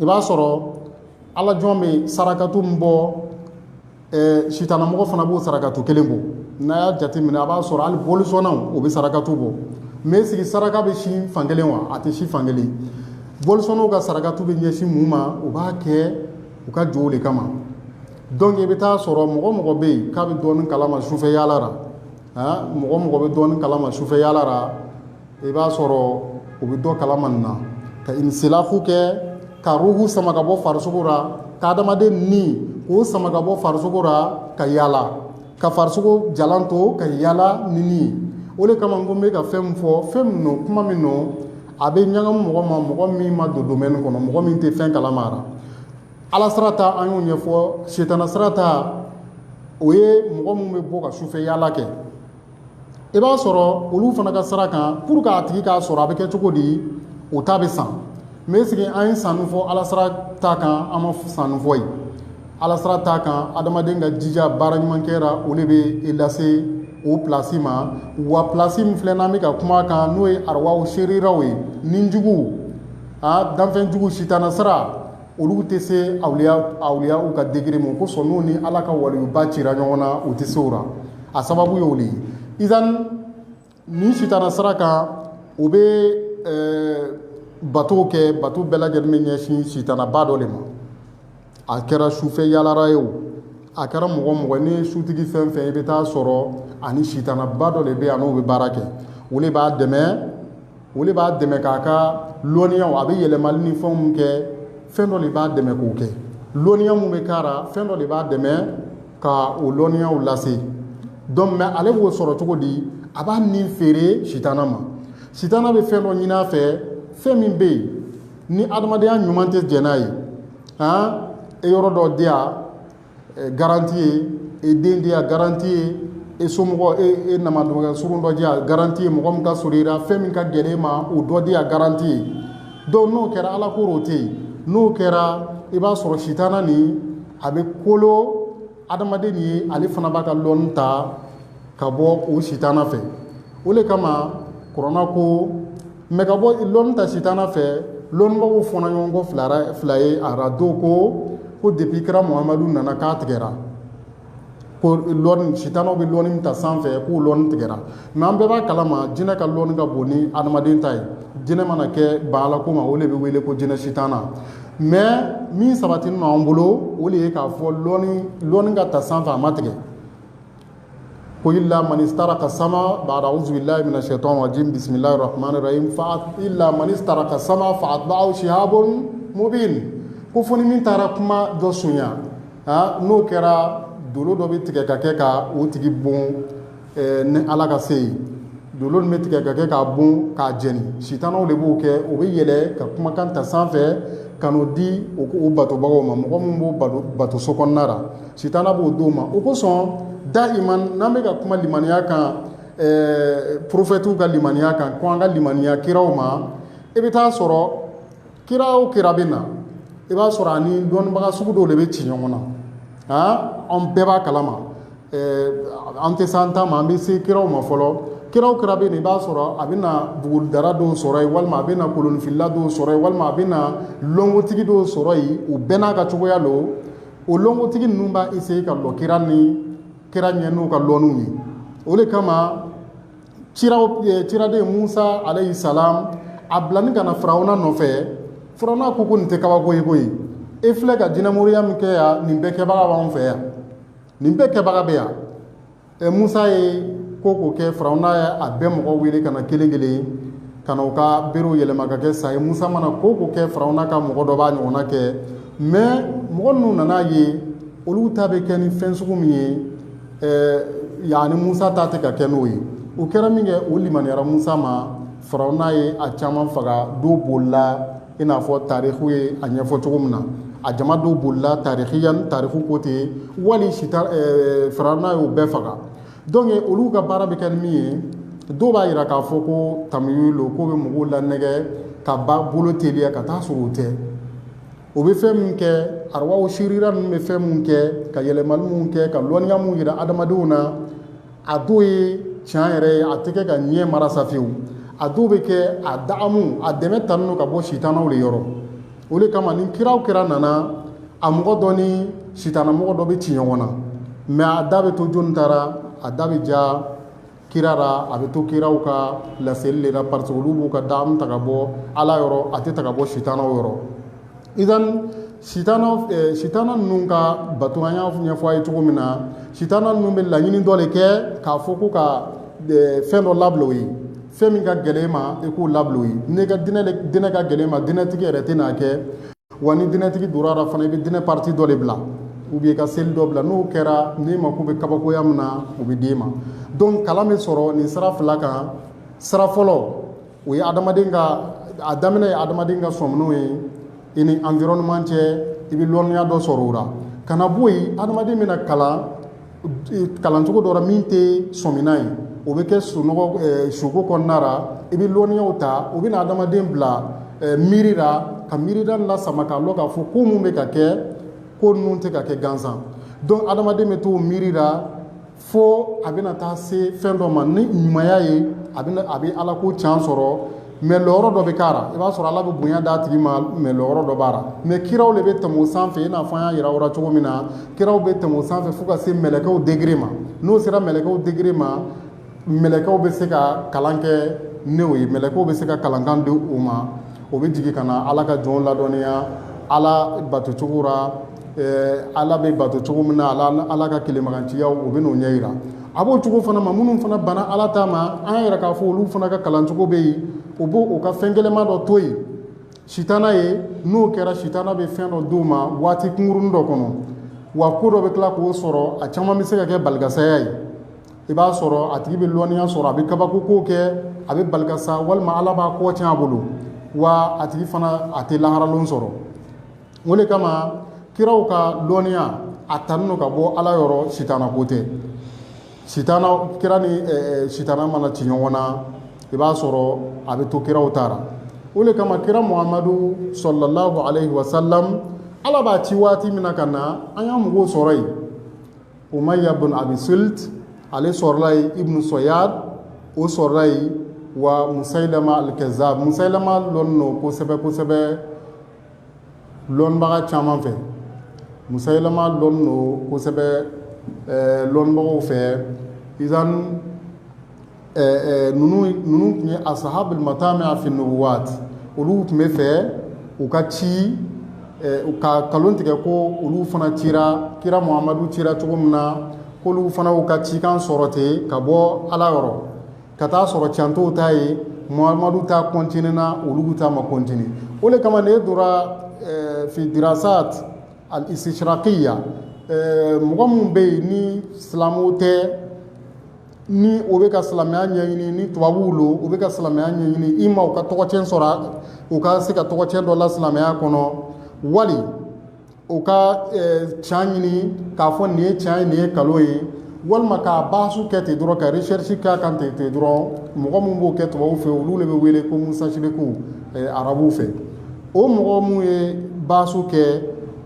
i b'a sɔrɔ ala jɔn bɛ sarakatu min bɔ Ɛɛ sitanamɔgɔ fana b'o sarakatu kelen bɔ n'a y'a jate minɛ a b'a sɔrɔ hali bolisɔnnaw u bɛ sarakatu bɔ mais est ce que saraka bɛ sin fan kelen wa a tɛ sin fan kelen bolisɔnnaw ka sarakatu bɛ ɲɛsin mun ma u b'a kɛ u ka jow de kama donc i bɛ taa sɔrɔ mɔgɔ o mɔgɔ bɛ yen k'a bɛ dɔɔnin kalama sufɛ yaala ra mɔgɔ o mɔgɔ bɛ dɔɔnin kalama sufɛ yaala ra i b'a sɔrɔ u bɛ dɔ kalama nin na ka inisilafu kɛ ka ruhu sama ka bɔ farisogo la ka adamaden ni k'o sama ka bɔ farisogo la ka yaala ka farisogo jalan to ka yaala ni ni o de kama ko n bɛ ka fɛn min fɔ fɛn min don kuma min don a bɛ ɲagamu mɔgɔ ma mɔgɔ min ma don domɛni kɔnɔ mɔgɔ min tɛ fɛn kalama la ala sira ta an y'o ɲɛfɔ sitana sira ta o ye mɔgɔ min bɛ bɔ ka sufɛ yaala kɛ i b'a sɔrɔ olu fana ka sira kan pour que a tigi k'a sɔrɔ a bɛ kɛ cogo di o ta bɛ san mais sigi an ye sanni fɔ ala sira ta kan an ma sanni fɔ yen ala sira ta kan adamaden ka jija baara ɲuman kɛ ra o de bɛ e lase o plasi ma wa plasi min filɛ n'an bɛ ka kuma kan n'o ye arawaw seriraw ye ni juguw a danfɛnjuguw sitana sira olu tɛ se awliyaw ka degré ma o kosɔn n'u ni Ala ka waliyuba cira ɲɔgɔn na u tɛ se o la a sababu y'o de ye izan nin sitana sira kan u bɛ bato kɛ bato bɛɛ lajɛlen bɛ ɲɛsin sitanaba dɔ de ma a kɛra sufɛ yaalara ye o a kɛra mɔgɔ mɔgɔ ni sutigi fɛn fɛn i bɛ taa sɔrɔ a ni sitanaba dɔ de bɛ yan n'o bɛ baara kɛ o de b'a dɛmɛ o de b'a dɛmɛ k'a ka lɔnniyaw a bɛ yɛlɛmali ni fɛn min kɛ fɛn dɔ de b'a dɛmɛ k'o kɛ lɔnniya min bɛ k'a ra fɛn dɔ de b'a dɛmɛ ka o lɔnniyaw lase donc mais ale b'o sɔrɔ cogo di a b'a nin feere sitana ma sitana bɛ fɛn dɔ ɲinin a fɛ fɛn min bɛ yen ni adamadenya ɲuman tɛ jɛn n'a ye aa e yɔrɔ dɔ di yan garanti ye e den di yan garanti ye e somɔgɔ e e na dɔgɔ surun dɔ di yan garanti ye mɔgɔ min ka surun i la fɛn min ka gɛlɛn e ma o dɔ di yan garanti ye donc n'o kɛra ala ko o tɛ yen n'o kɛra i b'a sɔrɔ sitana nin a bɛ kolo adamaden nin ye ale fana b'a ka lɔnni ta ka bɔ o sitana fɛ o de kama k ko mɛ ka bɔ lɔnni ta sitana fɛ lɔnnibaw fɔnna ɲɔgɔn kɔ fila fila ye a ra dɔ ko ko depuis kira mamadu nana k'a tigɛra ko sitanaw bɛ lɔni min ta sanfɛ k'o lɔni tigɛra mais an bɛɛ b'a kalama jinɛ ka lɔni ka bon ni adamaden ta ye jinɛ mana kɛ ban ala ko ma o de bɛ wele ko jinɛ sitana mais min sabatinin lo anw bolo o de ye k'a fɔ lɔni ka ta sanfɛ a ma tigɛ ko illa man istaraka sama bada auzubilahi minash shaitan rajim bisimilahi rahmani rahim illa man istaraka sama fa atba'ahu shihabun mubin ko foni min taara kuma dɔ sonya n'o kɛra dolo dɔ bɛ tigɛ ka kɛ ka o tigi bon ni ala ka se ye dolo min bɛ tigɛ ka kɛ k'a bon k'a jɛni sitanaw de b'o kɛ o bɛ yɛlɛ ka kumakan ta sanfɛ ka n'o di o ko batobagaw ma mɔgɔ min b'o bato so kɔnɔna ra Sitana b'o d'o ma o kosɔn da'iman n'an bɛ ka kuma limaniya kan porofɛtiw ka limaniya kan ko an ka limaniya kiraw ma i bɛ taa sɔrɔ kira o kira bɛ na i b'a sɔrɔ a ni dɔnnibaga sugu dɔw de bɛ ci ɲɔgɔn na aa an bɛɛ b'a kalama an tɛ se an ta ma an bɛ se kiraw ma fɔlɔ kira o kira bɛ yen i b'a sɔrɔ a bɛ na buguridara dɔw sɔrɔ yen walima a bɛ na kolonfilila dɔw sɔrɔ yen walima a bɛ na lɔnkotigi dɔw sɔrɔ yen o bɛɛ n'a ka cogoya don o lɔnkotigi ninnu b'a essayer ka lɔ kira ni kira ɲɛ n'u ka lɔnniw ye o de kama ciraw eh, ciraden Musa alayhi salam a bilani ka na Firawuna nɔfɛ Firawuna ko ko nin tɛ kabako ye koyi e filɛ ka jinɛmoriya min kɛ yan nin bɛɛ kɛbaga b'anw fɛ yan nin bɛɛ kɛbaga bɛ yan ɛ musa ye ko o ko kɛ firawuna ye a bɛɛ mɔgɔ wele ka na kelen kelen ka na u ka berew yɛlɛma ka kɛ sa ye musa mana ko o ko kɛ firawuna ka mɔgɔ dɔ b'a ɲɔgɔnna kɛ mais mɔgɔ ninnu nan'a ye olu ta bɛ kɛ ni fɛn sugu min ye ɛɛ yaani musa ta tɛ ka kɛ n'o ye o kɛra minkɛ o limaniyara musa ma firawuna ye a caman faga dɔw bolila i n'a fɔ tariku ye a ɲɛfɔ cogo min na a jama dɔw bolila tarikiyan tariku ko ten wali si firawuna y'o bɛɛ faga donc olu ka baara bɛ kɛ ni min ye dɔw b'a jira k'a fɔ ko tamuyu lo k'o bɛ mɔgɔw lanɛgɛ ka ba bolo teliya ka taa sɔrɔ o tɛ o bɛ fɛn min kɛ arawaw sirira ninnu bɛ fɛn min kɛ ka yɛlɛmali min kɛ ka lɔnniya min jira adamadenw na a dɔw ye tiɲɛ yɛrɛ ye a tɛ kɛ ka ɲɛ marasa fiyewu a dɔw bɛ kɛ a daamu a dɛmɛ tanen don ka bɔ sitanaw de yɔrɔ o de kama ni kira o kira nana a mɔgɔ dɔ ni sitana mɔgɔ dɔ bɛ ci ɲɔgɔn na mais a da bɛ to jɔni ta ra a da bɛ ja kira ra a bɛ to kiraw ka laseli le la parce que olu b'u ka daamu ta ka bɔ ala yɔrɔ a tɛ ta ka bɔ sitanaw yɔrɔ idan sitana ninnu ka bato an y'a ɲɛfɔ a ye cogo min na sitana ninnu bɛ laɲini dɔ de kɛ k'a fɔ ko ka fɛn dɔ labila o ye fɛn min ka gɛlɛn i ma i k'o labila o ye n'i ka dinɛ dinɛ ka gɛlɛn i ma dinɛtigi yɛrɛ tɛn'a kɛ wa ni dinɛtigi donn'a la fana i bɛ dinɛ partie dɔ de bila ou bien ka seli dɔ bila n'o kɛra n'i mako bɛ kabakoya min na o bɛ d'i ma donc kalan bɛ sɔrɔ nin sira fila kan sira fɔlɔ o ye adamaden ka a daminɛ ye adamaden ka sɔminaw ye i ni environnement cɛ i bɛ lɔnniya dɔ sɔrɔ o la ka na bɔ yen adamaden bɛna kalan kalancogo dɔ la min tɛ sɔmina ye o bɛ kɛ sunɔgɔ suko kɔnɔna ra i bɛ lɔnniyaw ta o bɛna adamaden bila miiri la ka miiridan lasama k'a dɔn k'a fɔ ko minnu bɛ ka kɛ ko ninnu tɛ ka kɛ gansan donc adamaden bɛ to miiri la fo a bɛna taa se fɛn dɔ ma ni ɲumanya ye a bɛ a bɛ ala ko can sɔrɔ mais lɔyɔrɔ dɔ bɛ k'a la i b'a sɔrɔ ala bɛ bonya d'a tigi ma mais lɔyɔrɔ dɔ b'a la mais kiraw de bɛ tɛmɛ o sanfɛ i n'a fɔ an y'a yira aw la cogo min na kiraw bɛ tɛmɛ o sanfɛ fo ka se mɛlɛkɛw degré ma n'o sera mɛlɛkɛw degré ma mɛlɛkɛw bɛ se ka kalan kɛ n'o ye mɛlɛkɛw bɛ se ka kalankan di o ma o bɛ jigin ka na ala ka jɔnw ladɔnniya ala batocogo la ala bɛ bato cogo min na ala ka kelemaganciyaw u bɛ n'o ɲɛ yira a b'o cogo fana ma minnu fana banna ala ta ma an yɛrɛ k'a fɔ olu fana ka kalancogo bɛ yen u b' u ka fɛn gɛlɛnman dɔ to yen sitana ye n'o kɛra sitana bɛ fɛn dɔ d'o ma waati kunkurun dɔ kɔnɔ wa ko dɔ bɛ tila k'o sɔrɔ a caman bɛ se ka kɛ balikasaya ye i b'a sɔrɔ a tigi bɛ lɔnniya sɔrɔ a bɛ kabakokow kɛ a bɛ balikasa walima ala b'a kɔ tiɲɛ a bolo wa a tigi fana a tɛ laharalon sɔrɔ o de kama kiraw ka dɔnniya a tanin don ka bɔ ala yɔrɔ sitana ko tɛ kira ni sitana mana ci ɲɔgɔn na i b'a sɔrɔ a bɛ to kiraw ta ra o de kama kira muhamadu salalahu alayhi wa salam ala b'a ci waati min na ka na an y'a mɔgɔw sɔrɔ yen umayya bin abisilt ale sɔrɔla yen ibnu soyad o sɔrɔla yen wa musayilama alkazab musayilama lɔn don kosɛbɛ kosɛbɛ lɔnbaga caman fɛ musayilama lɔn don kosɛbɛ lɔnbagaw fɛ izan ninnu tun ye asahabul matami fi nubuwat olu tun bɛ fɛ u ka ci u ka kalon tigɛ ko olu fana cira kira muhamadu cira cogo min na ko olu fana u ka cikan sɔrɔ ten ka bɔ ala yɔrɔ ka taa a sɔrɔ can t'o ta ye muhamadu ta kɔntinena olu ta ma kɔntine o de kama n'i dora fi dirasat al istishraqiya mɔgɔ minnu bɛ yen ni silamɛw tɛ ni o bɛ ka silamɛya ɲɛɲini ni tubabuw lo u bɛ ka silamɛya ɲɛɲini i ma u ka tɔgɔcɛn sɔrɔ u ka se ka tɔgɔcɛn dɔ la silamɛya kɔnɔ wali o ka can ɲini k'a fɔ nin ye can ye nin ye kalo ye walima k'a baasu kɛ ten dɔrɔn ka recherche k'a kan ten ten dɔrɔn mɔgɔ min b'o kɛ tubabuw fɛ olu de bɛ wele ko musashiriku arabuw fɛ o mɔgɔ minnu ye baasu kɛ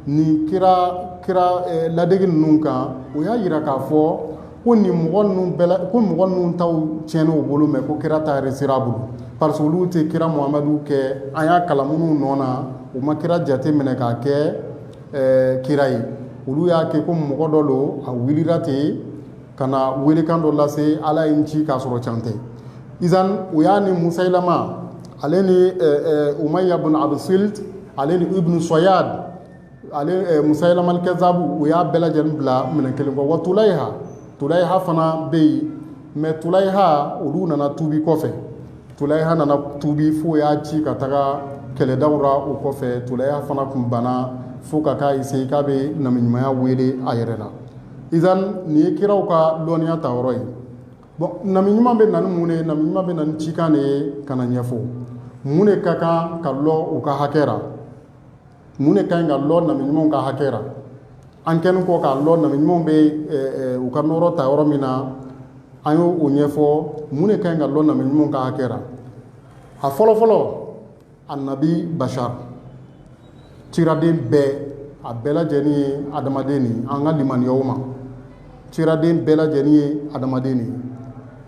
nin kira kira ladege ninnu kan o y'a yira k'a fɔ ko nin mɔgɔ ninnu bɛɛ la ko mɔgɔ ninnu taw tiɲɛna u bolo mɛ ko kira ta resira a bolo parce que olu tɛ kira muhamadu kɛ an y'a kalan minnu nɔ na u ma kira jate minɛ k'a kɛ ɛɛ kira ye olu y'a kɛ ko mɔgɔ dɔ lo a wulila ten ka na welekan dɔ lase ala ye n ci k'a sɔrɔ can tɛ izan o y'a ni musayilama ale ni ɛɛ ɛɛ umayya bin abisilt ale ni ibn soyad ale musayilama alkazabu u y'a bɛɛ lajɛlen bila minɛn kelen wa tulayha tulayha fana bɛ yen mɛ tulayha olu nana tuubi kɔfɛ tulayha nana tuubi fo y'a ci ka taga kɛlɛdaw ra o kɔfɛ tulayha fana tun banna fo ka k'a essaye k'a bɛ namiɲumanya wele a yɛrɛ la izan nin ye kiraw ka dɔnniya ta yɔrɔ ye bon namiɲuman bɛ na ni mun de ye namiɲuman bɛ na ni cikan de ye ka na ɲɛfɔ mun de ka kan ka lɔn u ka hakɛ mun de ka ɲi ka lɔn nabi ɲumanw ka hakɛ la an kɛlen kɔ k'a lɔn nabi ɲumanw bɛ u ka nɔɔrɔ ta yɔrɔ min na an y' o ɲɛfɔ mun de ka ɲi ka lɔn nabi ɲumanw ka hakɛ la a fɔlɔ fɔlɔ annabi bashar ciraden bɛɛ a bɛɛ lajɛlen ye adamaden de ye an ka limaniya u ma ciraden bɛɛ lajɛlen ye adamaden de ye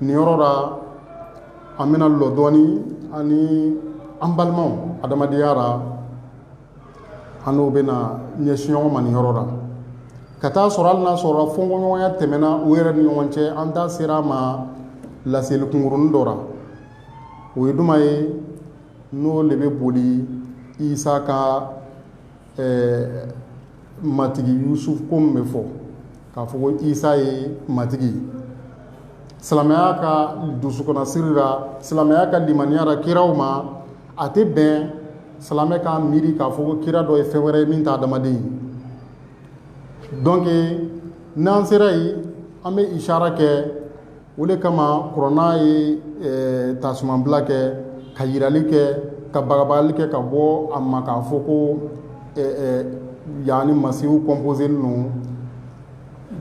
nin yɔrɔ la an bɛna lɔ dɔɔni ani an balimaw adamadenya ra an n'o bɛna ɲɛsin ɲɔgɔn ma nin yɔrɔ la ka taa sɔrɔ hali n'a sɔrɔ fɔnkɔɲɔgɔnya tɛmɛna u yɛrɛ ni ɲɔgɔn cɛ an da sera a ma laseli kunkurunin dɔ la o ye juman ye n'o de bɛ boli isa ka Ɛɛ matigi Yesu ko min bɛ fɔ k'a fɔ ko Isa ye matigi ye, silamɛya ka dusukɔnɔsiri la, silamɛya ka limaniya la kiraw ma, a tɛ bɛn silamɛ k'a miiri k'a fɔ ko kira dɔ ye fɛn wɛrɛ ye min tɛ adamaden ye donc n'an sera yen, an bɛ ishaara kɛ o de kama kuranɛ ye tasumabila kɛ ka yirali kɛ ka bagabagali kɛ ka bɔ a ma k'a fɔ ko yaani masihu composélen lo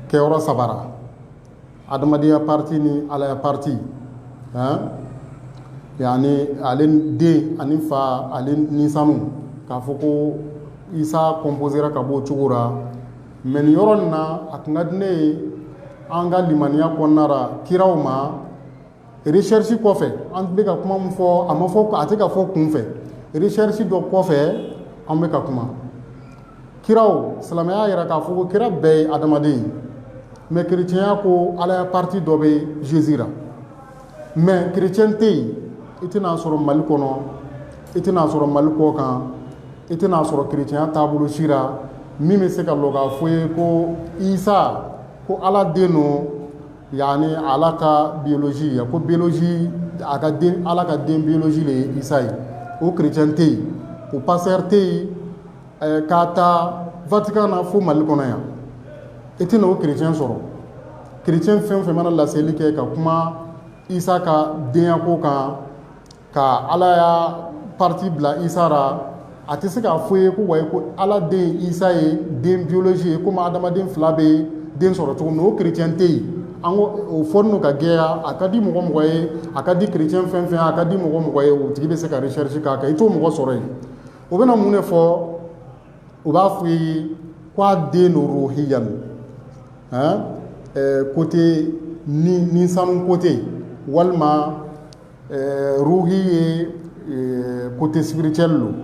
kɛ yɔrɔ saba ra adamadenya parti ni alaya parti yaani ale den ani fa ani ni sanu k'a fɔ ko isa composera ka bɔ o cogo la mais nin yɔrɔ na a tun ka di ne ye an ka limaniya kɔnɔna ra kiraw ma recherche kɔfɛ an bɛ ka kuma min fɔ a ma fɔ ko a tɛ ka fɔ kunfɛ recherche dɔ kɔfɛ an bɛ ka kuma kiraw silamɛya yɛrɛ k'a fɔ ko kira bɛɛ ye adamaden ye mais chrétienya ko alaya parti dɔ bɛ Jésus ra mais chrétien tɛ yen i tɛna a sɔrɔ mali kɔnɔ i tɛna a sɔrɔ mali kɔ kan i tɛna a sɔrɔ chrétienya taabolo si la min bɛ se ka lɔ k'a fɔ i ye ko isa ko ala den don yaani ala ka biologie ye ko biologie a ka ala ka den biologie de ye isa ye o chrétien tɛ yen o pasteur tɛ yen ɛɛ k'a ta Vatican na fo Mali kɔnɔ yan i tɛna o chrétien sɔrɔ chrétien fɛn o fɛn mana laseli kɛ ka kuma Isa ka denya ko kan ka Ala ya parti bila Isa ra a tɛ se k'a fɔ i ye ko wayi ko Ala den Isa ye den biologie ye komi adamaden fila bɛ den sɔrɔ cogo min o chrétien tɛ yen an ko o fɔli n'o ka gɛlɛya a ka di mɔgɔ mɔgɔ ye a ka di chrétien fɛn fɛn a ka di mɔgɔ mɔgɔ ye o tigi bɛ se ka recherche k'a kan i t'o mɔgɔ sɔrɔ yen o bɛna mun de fɔ u b'a fɔ i ye k'a den don ruhiya don kote ni sanu kote walima ruhi ye kote spirituel don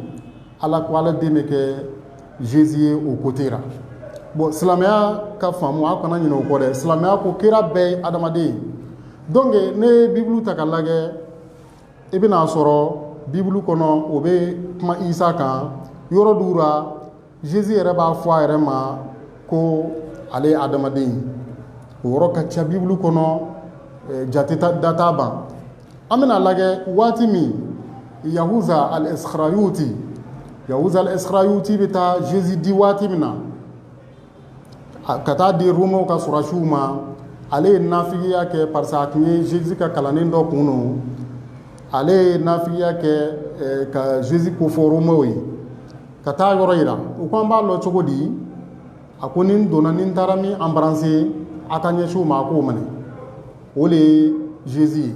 ala ko ala den bɛ kɛ zezi ye o kote la bɔn silamɛya ka faamu a kana ɲinɛ o kɔ dɛ silamɛya ko kira bɛɛ ye adamaden ye donc ne ye bibulu ta k'a lajɛ i bɛn'a sɔrɔ bibulu kɔnɔ o bɛ kuma isa kan yɔrɔ dɔw la zezi yɛrɛ b'a fɔ a yɛrɛ ma ko ale ye adamaden o yɔrɔ ka ca bibulu kɔnɔ jate da t'a ban an bɛna lajɛ waati min yahuza alisikarayuti yahuza alisikarayuti bɛ taa zezi di waati min na ka taa di Romains ka sɔrɔdasiw ma ale ye nafigiya kɛ parce que a tun ye Jésus ka kalannen dɔ kun don ale ye nafigiya kɛ eh, ka Jésus kofɔ Romains ye ka taa yɔrɔ yira u ko an b'a lɔ cogo di a ko ni n donna ni n taara min embrasser a ka ɲɛsin o ma a k'o minɛ o de ye Jésus ye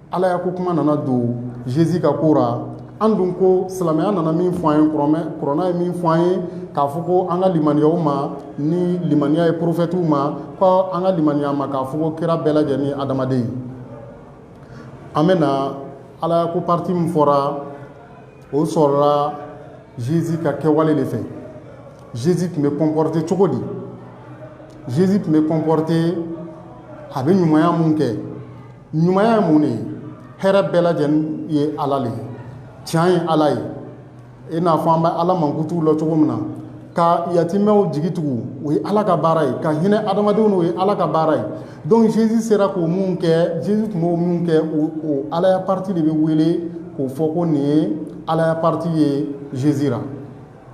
alaya ko kuma nana don zezi ka ko ra an dun ko silamɛya nana min fɔ an ye kuranɛ ye min fɔ an ye k'a fɔ ko an ka limaniya u ma ni limaniya ye porofɛtiw ma ko an ka limaniya ma k'a fɔ ko kira bɛɛ lajɛlen ye adamaden ye an bɛ na alaya ko pariti min fɔra o sɔrɔla zezi ka kɛwale de fɛ zezi tun bɛ kɔnpɔrite cogo di zezi tun bɛ kɔnpɔrite a bɛ ɲumanya min kɛ ɲumanya ye mun de ye hɛrɛ bɛɛ lajɛlen ye ala de ye tiɲɛ ye ala ye i n'a fɔ an bɛ ala mankutu lɔ cogo min na ka yatimɛw jigi tugu o ye ala ka baara ye ka hinɛ adamadenw na o ye ala ka baara ye donc jésus sera k'o min kɛ jésus tun b'o minw kɛ o alaya parti de bɛ wele k'o fɔ ko nin ye alaya parti ye jésus ra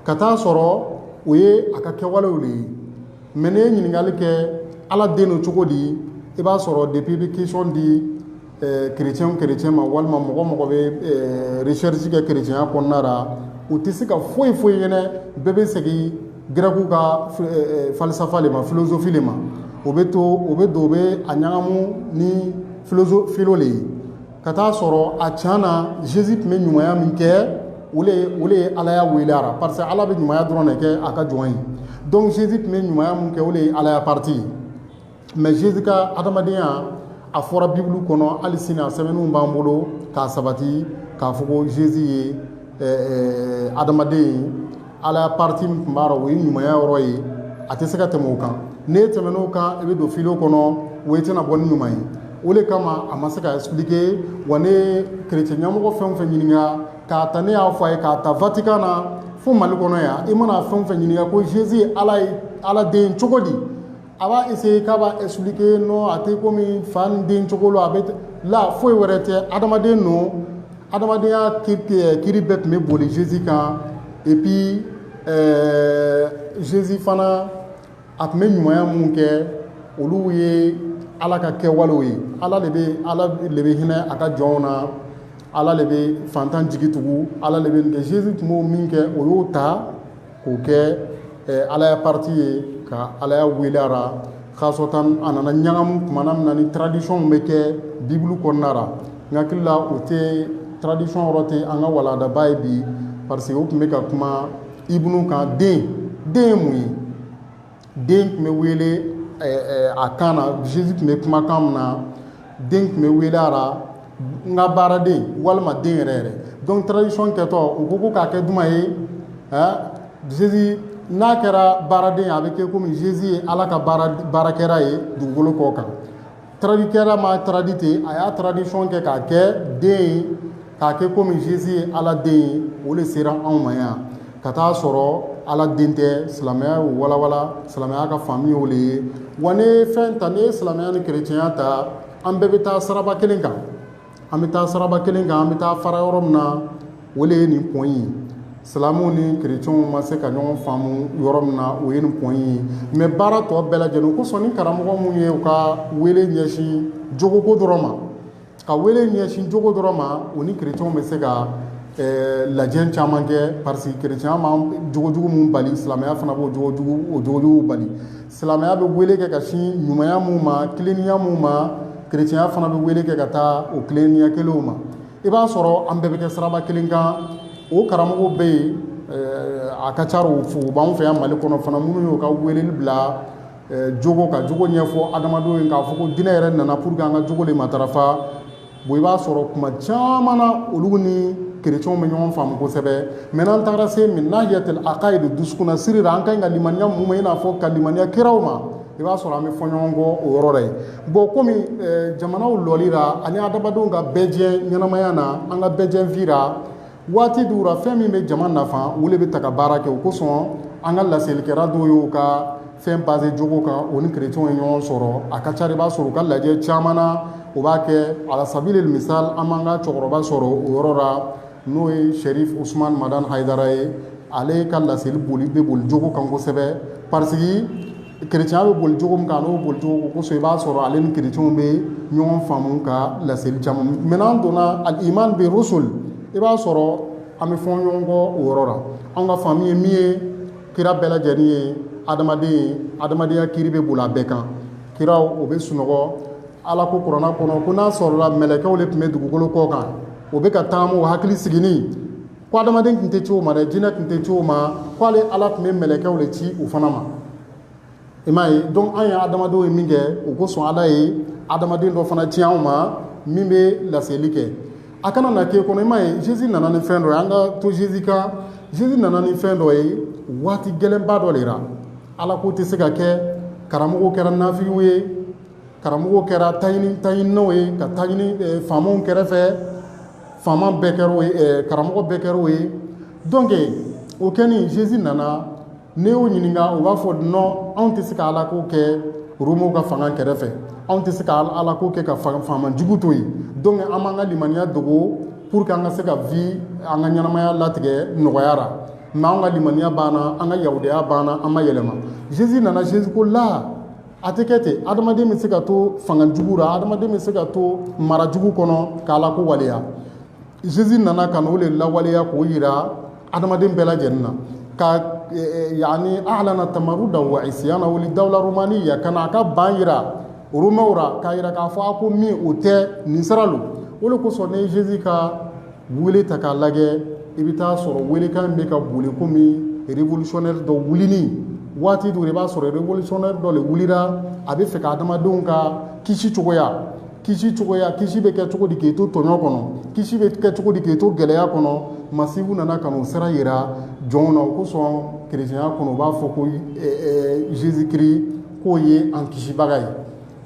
ka taa sɔrɔ o ye a ka kɛwalew de ye mɛ ne ye ɲininkali kɛ ala den don cogo di i b'a sɔrɔ depi i bɛ question di kerecɛn eh, kerecɛn ma walima mɔgɔ o mɔgɔ bɛ eh, recherche kɛ kerecɛnya kɔnɔna la u tɛ se ka foyi foyi ɲɛnɛ bɛɛ bɛ segin gɛrɛkiw ka eh, falisafa de ma filozofi de ma o bɛ to o bɛ don o bɛ a ɲagamu ni filozo filo de ye ka t'a sɔrɔ a can na zezi tun bɛ ɲumanya min kɛ o de o de ye alaya wele a ra parce que ala bɛ ɲumanya dɔrɔn de kɛ a ka jɔn ye dɔnku zezi tun bɛ ɲumanya min kɛ o de ye alaya parti ye mɛ zezi ka adamadenya a fɔra bibulu kɔnɔ hali sini a sɛbɛnw b'an bolo k'a sabati k'a fɔ ko zezi ye adamaden ye alaya pati min tun b'a la o ye ɲumanya yɔrɔ ye a tɛ se ka tɛmɛ o kan n'e tɛmɛn'o kan i bɛ don fili kɔnɔ o tɛna bɔ ni ɲuman ye o de kama a ma se ka expliquer wa ne kerecɛn ɲɛmɔgɔ fɛn o fɛn ɲininka k'a ta ne y'a fɔ a ye k'a ta Vatican na fo mali kɔnɔ yan i mana fɛn o fɛn ɲininka ko Jésus ye ala den cogo di a b'a essayer k'a b'a expliquer non a tɛ komi fa ni den cogo lo a bɛ la foyi wɛrɛ tɛ adamaden don adamadenya kiri bɛɛ tun bɛ boli Jésus kan et puis ɛɛ Jésus fana a tun bɛ ɲumanya minnu kɛ olu ye Ala ka kɛwalew ye Ala de bɛ hinɛ a ka jɔnw na Ala de bɛ fantan jigi tugu Ala de bɛ nin kɛ Jésus tun b'o min kɛ o y'o ta k'o kɛ alaya pati ye ka alaya wele a ra kasatan a nana ɲagamu tumana min na ni traduction bɛ kɛ bibulu kɔnɔna ra n hakili la o tɛ traduction yɔrɔ tɛ an ka walandaba ye bi parce que o tun bɛ ka kuma ibnu kan den ye mun ye den tun bɛ wele a kan na Jésus tun bɛ kuma kan min na den tun bɛ wele a la n ka baaraden walima den yɛrɛ yɛrɛ donc traduction kɛtɔ u ko ko k'a kɛ jumɛn ye Jésus n'a kɛra baaraden a bɛ kɛ komi Jésus ye ala ka baarakɛla ye dugukolo kɔ kan traduitkɛla ma a traduit ten a y'a traduction kɛ k'a kɛ den ye k'a kɛ komi Jésus ye ala den ye o de sera anw ma yan ka taa a sɔrɔ ala den tɛ silamɛya y'o walawala silamɛya ka faamu y'o de ye wa n'e ye fɛn ta n'e ye silamɛya ni kerecɛnya ta an bɛɛ bɛ taa siraba kelen kan an bɛ taa siraba kelen kan an bɛ taa fara yɔrɔ min na o de ye nin point ye silamɛw ni kerecɛnw ma se ka ɲɔgɔn faamu yɔrɔ min na o ye nin point ye mais baara tɔ bɛɛ lajɛlen o kosɔn ni karamɔgɔ minnu ye u ka wele ɲɛsin jogoko dɔrɔn ma ka wele ɲɛsin jogo dɔrɔn ma u ni kerecɛnw bɛ se ka Eh, lajɛ caman kɛ parce que kerecɛnya ma jogojugu min bali silamɛya fana b'o jogojuguw bali silamɛya bɛ wele kɛ ka sin ɲumanya minnu ma tilennenya minnu ma kerecɛnya fana bɛ wele kɛ ka taa o tilennenya kelenw ma i b'a sɔrɔ an bɛɛ bɛ kɛ siraba kelen kan o karamɔgɔw bɛ yen a ka ca u b'an fɛ yan mali kɔnɔ fana minnu y'u ka weleli bila jogo ka jogo ɲɛfɔ adamadenw ye k'a fɔ ko diinɛ yɛrɛ nana pour que an ka jogo de matarafa bon i b'a sɔrɔ kuma caman na olu ni kerecɛnw bɛ ɲɔgɔn faamu kosɛbɛ mais n'an tagara se min nahiyatil akayidi dusukun na siri la an ka ɲi ka limaniya mun ma i n'a fɔ ka limaniya kiraw ma i b'a sɔrɔ an bɛ fɔ ɲɔgɔn kɔ o yɔrɔ la yen bon komi jamanaw lɔli la ani adamadenw ka bɛɛjɛ ɲɛnamaya na an ka bɛɛjɛ vie la waati dɔw la fɛn min bɛ jama nafa o le bɛ ta ka baara kɛ o kosɔn an ka laselikɛla dɔw y'o ka fɛn base jogo kan o ni kerecɛnw ye ɲɔgɔn sɔrɔ a ka ca la i b'a sɔrɔ u ka lajɛ caman na o b'a kɛ ala sabilil misal an b'an ka cɛkɔrɔba sɔrɔ o yɔrɔ la n'o ye Sherif Usman Madani Haidara ye ale ka laseli boli bɛ boli jogo kan kosɛbɛ pa kerecɛnya bɛ boli jogo min kan n'o boli jogo kosɔn i b'a sɔrɔ ale ni kerecɛnw bɛ ɲɔgɔn faamu ka laseli caman mais n'an donna al iman bi rusul i b'a sɔrɔ an bɛ fɔ ɲɔgɔn kɔ o yɔrɔ la an ka faamu ye min ye kira bɛɛ lajɛlen ye adamaden ye adamadenya kiri bɛ boli a bɛɛ kan kiraw o bɛ sunɔgɔ ala ko kuranna kɔnɔ ko n'a sɔrɔla mɛlɛkɛw de tun bɛ dugukolo kɔ kan o bɛ ka taama o hakili sigini ko adamaden tun tɛ ci o ma dɛ jinɛ tun tɛ ci o ma ko ale ala tun bɛ mɛlɛkɛw de ci u fana ma i m'a ye donc an ye adamadenw ye min kɛ o kosɔn ala ye adamaden dɔ fana ci anw ma min bɛ laseli kɛ a kana na k'i kɔnɔ i m'a ye Jésus nana ni fɛn dɔ ye an ka to Jésus kan Jésus nana ni fɛn dɔ ye waati gɛlɛnba dɔ de la ala ko tɛ se ka kɛ karamɔgɔw kɛra nafigiw ye karamɔgɔw kɛra taɲininaw ye ka taɲini faamaw kɛrɛfɛ faama bɛɛ kɛra o ye eh, karamɔgɔ bɛɛ kɛra o ye donc o kɛni Jésus nana n'i y'u ɲininka u b'a fɔ non anw tɛ se ka Ala ko kɛ Romew ka fanga kɛrɛfɛ anw tɛ se ka Ala ko kɛ ka faama jugu to yen donc an b'an ka limaniya dogo pour que an ka se ka vie an ka ɲɛnamaya latigɛ nɔgɔya la mais anw ka limaniya b'an na an ka yahudiya b'an na an ma yɛlɛma Jésus nana Jésus ko la a tɛ kɛ ten adamaden bɛ se ka to fanga jugu la adamaden bɛ se ka to mara jugu kɔnɔ k'ala ko waleya Jésus nana ka n'o de lawaleya k'o jira adamaden bɛɛ lajɛlen na ka yani a'lana tamaruda wa isyana wuli dawula romaniya kana a ka ban jira Romɛw la k'a jira k'a fɔ a ko min o tɛ nin sira don o de kosɔn ne Jésus ka wele ta k'a lajɛ i bɛ taa sɔrɔ welekan bɛ ka boli komi révolutionnaire dɔ wulini waati dɔ la i b'a sɔrɔ révolutionnaire dɔ de wulila a bɛ fɛ ka adamadenw ka kisi cogoya kisi cogoya kisi bɛ kɛ cogo di k'i to tɔɲɔ kɔnɔ kisi bɛ kɛ cogo di k'i to gɛlɛya kɔnɔ masihu nana ka n'o sira jira jɔnw na o kosɔn kerecɛnya kɔnɔ u b'a fɔ ko Jésus Christ k'o ye an kisibaga ye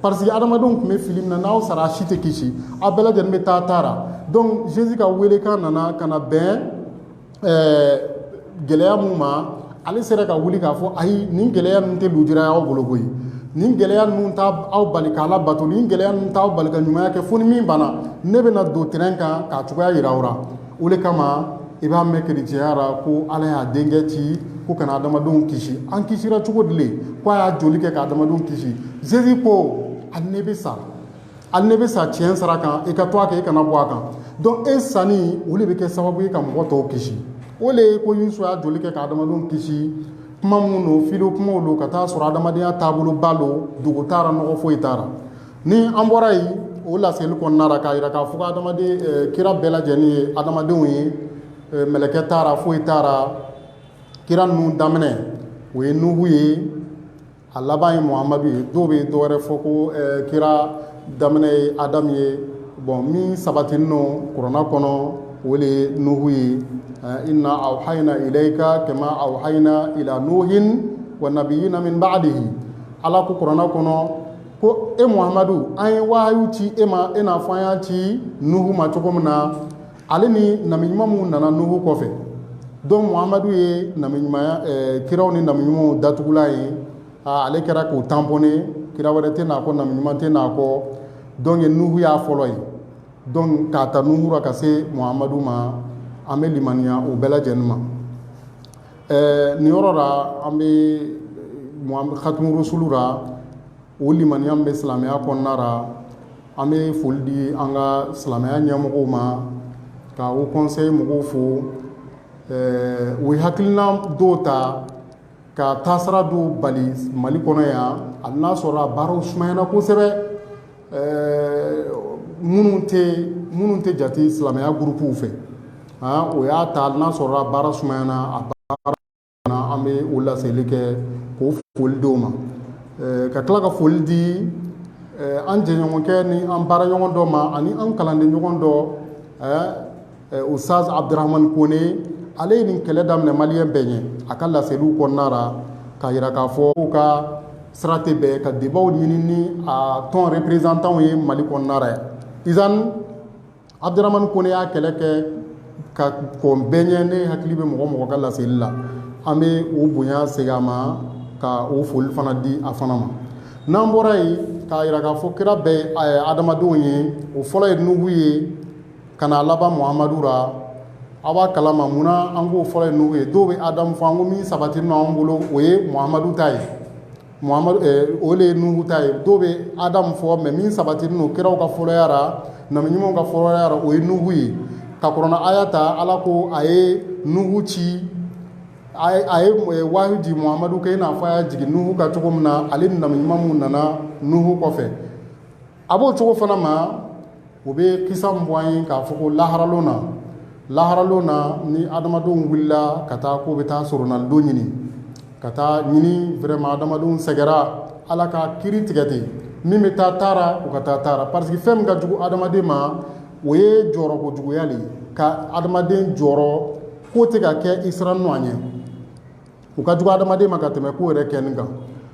Parce que adamadenw tun bɛ fili min na n'aw sara a si tɛ kisi aw bɛɛ lajɛlen bɛ taa ta la donc Jésus ka welekan nana ka na bɛn ɛɛ gɛlɛya mun ma ale sera ka wuli k'a fɔ ayi nin gɛlɛya ninnu tɛ lujura y'aw bolo koyi nin gɛlɛya ninnu t'aw bali k'Ala bato nin gɛlɛya ninnu t'aw bali ka ɲumanya kɛ fo ni min banna ne bɛna don terrain kan k'a cogoya jira aw la o de kama i b'a mɛn kerecɛnya ra ko ala y'a denkɛ ci ko ka na adamadenw kisi an kisira cogo di le ko a y'a joli kɛ ka adamadenw kisi Jésus ko hali ne bɛ sa hali ne bɛ sa tiɲɛ sira kan i ka to a kan i kana bɔ a kan donc e sanni o de bɛ kɛ sababu ye ka mɔgɔ tɔw kisi o le ye ko yesu y'a joli kɛ ka adamadenw kisi kuma mun don filo kumaw don ka taa sɔrɔ adamadenya taaboloba don dogo t'a ra nɔgɔ foyi t'a ra ni an bɔra yen o laseli kɔnɔna ra k'a yira k'a fɔ ko adamaden kira bɛɛ lajɛlen ye adamadenw ye mɛlɛkɛ t'a ra foyi t'a ra kira ninnu daminɛ o ye nuhu ye a laban ye muhamadu ye dɔw bɛ dɔ wɛrɛ fɔ ko kira daminɛ ye adamu ye bon min sabatilen don kurana kɔnɔ o le ye nuhu ye inna awhayna ilayka kama awhayna ila nuhin wa nabiyina min ba'dihi ala ko kurana kɔnɔ ko e muhamadu an ye wahayu ci e ma i n'a fɔ an y'a ci nuhu ma cogo min na ale ni nabi ɲuman minnu nana nuhu kɔfɛ donc muhamadu ye nabi ɲumanya eh, kiraw ni nabi ɲumanw datugulan ye ah, ale kɛra k'o tamponne kira wɛrɛ tɛ n'a kɔ nabi ɲuman tɛ n'a kɔ donc nuhu y'a fɔlɔ ye donc k'a ta nuhu ra ka se muhamadu ma an bɛ limaniya o bɛɛ lajɛlen ma Ɛɛ nin yɔrɔ la an bɛ khatumu rusulu la o limaniya min bɛ silamɛya kɔnɔna la an bɛ foli di an ka silamɛya ɲɛmɔgɔw ma ka Haut conseil mɔgɔw fo ɛɛ u ye hakilina dɔw ta ka taasira dɔw bali Mali kɔnɔ yan hali n'a sɔrɔ a baaraw sumayana kosɛbɛ ɛɛ minnu tɛ minnu tɛ jate silamɛya gurupuw fɛ o y'a ta hali n'a sɔrɔ baara sumayana a baara an bɛ o laseli kɛ k'o foli d'o ma ka tila ka foli di an jɛɲɔgɔnkɛ ni an baaraɲɔgɔn dɔ ma ani an kalanden ɲɔgɔn dɔ ustaz abudurahamani kone ale ye nin kɛlɛ daminɛ maliyɛn bɛɛ ɲɛ a ka laseliw kɔnɔna ra k'a yira k'a fɔ k'u ka sira tɛ bɛn ka débatw ɲini ni a tɔn représentantw ye mali kɔnɔna ra yan zan abudurahamani kone y'a kɛlɛ kɛ ka kɔn bɛɛ ɲɛ ne hakili bɛ mɔgɔ mɔgɔ ka laseli la an bɛ o bonya segin a ma ka o foli fana di a fana ma n'an bɔra yen k'a yira k'a fɔ kira bɛɛ adamadenw ye o fɔlɔ ye nuhu ye Ka n'a laban Muhamadu ra, aw b'a kalama munna an k'o fɔlɔ ye nuhu ye? Dɔw bɛ Adamu fɔ, an ko min sabatilen don anw bolo, o ye Muhamadu ta ye, Muhamadu ɛɛ o le ye nuhu ta ye, dɔw bɛ Adamu fɔ mais min sabatilen don kiraw ka fɔlɔya ra, nabi ɲumanw ka fɔlɔya ra, o ye nuhu ye. Ka kurana aya ta, Ala ko a ye nuhu ci, a ye a ye wahayu jigin Muhamadu kan i n'a fɔ a y'a jigin nuhu kan cogo min na, ale ni nabi ɲuman minnu nana nuhu kɔfɛ. a b'o cogo fana ma o bɛ kisa bɔ an ye k'a fɔ ko laharalon na laharalon na ni adamadenw wulila ka taa k'o bɛ taa soronadon ɲini ka taa ɲini vraiment adamadenw sɛgɛra ala ka kiri tigɛ ten min bɛ taa ta ra o ka taa ta ra parce que fɛn min ka jugu adamaden ma o ye jɔrɔ kojuguya le ka adamaden jɔrɔ ko tɛ ka kɛ i sirannen a ɲɛ o ka jugu adamaden ma ka tɛmɛ ko yɛrɛ kɛnin kan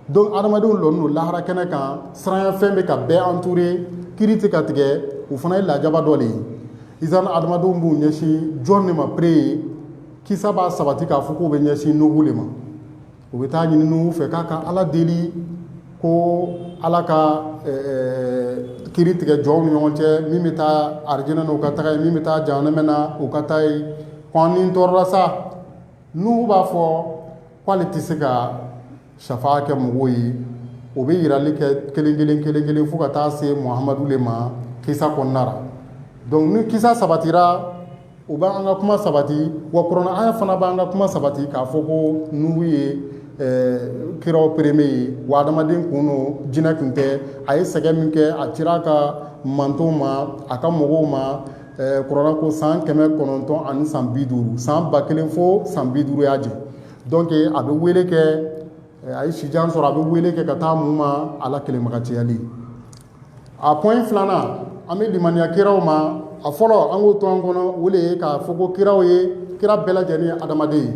donc adamadenw lɔnin don lahara kɛnɛ kan siranya fɛn bɛ ka bɛɛ entourer kiri tɛ ka tigɛ o fana ye lajaba dɔ de ye izan adamadenw b'u ɲɛsin jɔn de ma pere ye kisa b'a sabati k'a fɔ k'u bɛ ɲɛsin Nuhu de ma u bɛ taa ɲini Nuhu fɛ k'a ka ala deli ko ala ka kiri tigɛ jɔnw ni ɲɔgɔn cɛ min bɛ taa arijinɛ o ka taga yen min bɛ taa jahanama na o ka taa yen ko an ni tɔɔrɔla sa Nuhu b'a fɔ k'ale tɛ se ka safa kɛ mɔgɔw ye o bɛ yirali kɛ kelen kelen kelen kelen fo ka taa se muhamadu de ma kisa kɔnɔna ra donc ni kisa sabatira o b'an ka kuma sabati wa kuranɛ aya fana b'an ka kuma sabati k'a fɔ ko nuhu ye kiraw premier ye wa adamaden tun don jinɛ tun tɛ a ye sɛgɛn min kɛ a cira a ka mantonw ma a ka mɔgɔw ma Ɛɛ kurana ko san kɛmɛ kɔnɔntɔn ani san bi duuru san ba kelen fo san bi duuru y'a jɛ donc a bɛ wele kɛ a ye sijan sɔrɔ a bɛ wele kɛ ka taa mun ma ala kelenmagacɛyali a point filanan an bɛ limaniya kiraw ma a fɔlɔ an k'o to an kɔnɔ o de ye k'a fɔ ko kiraw ye kira bɛɛ lajɛlen ye adamaden ye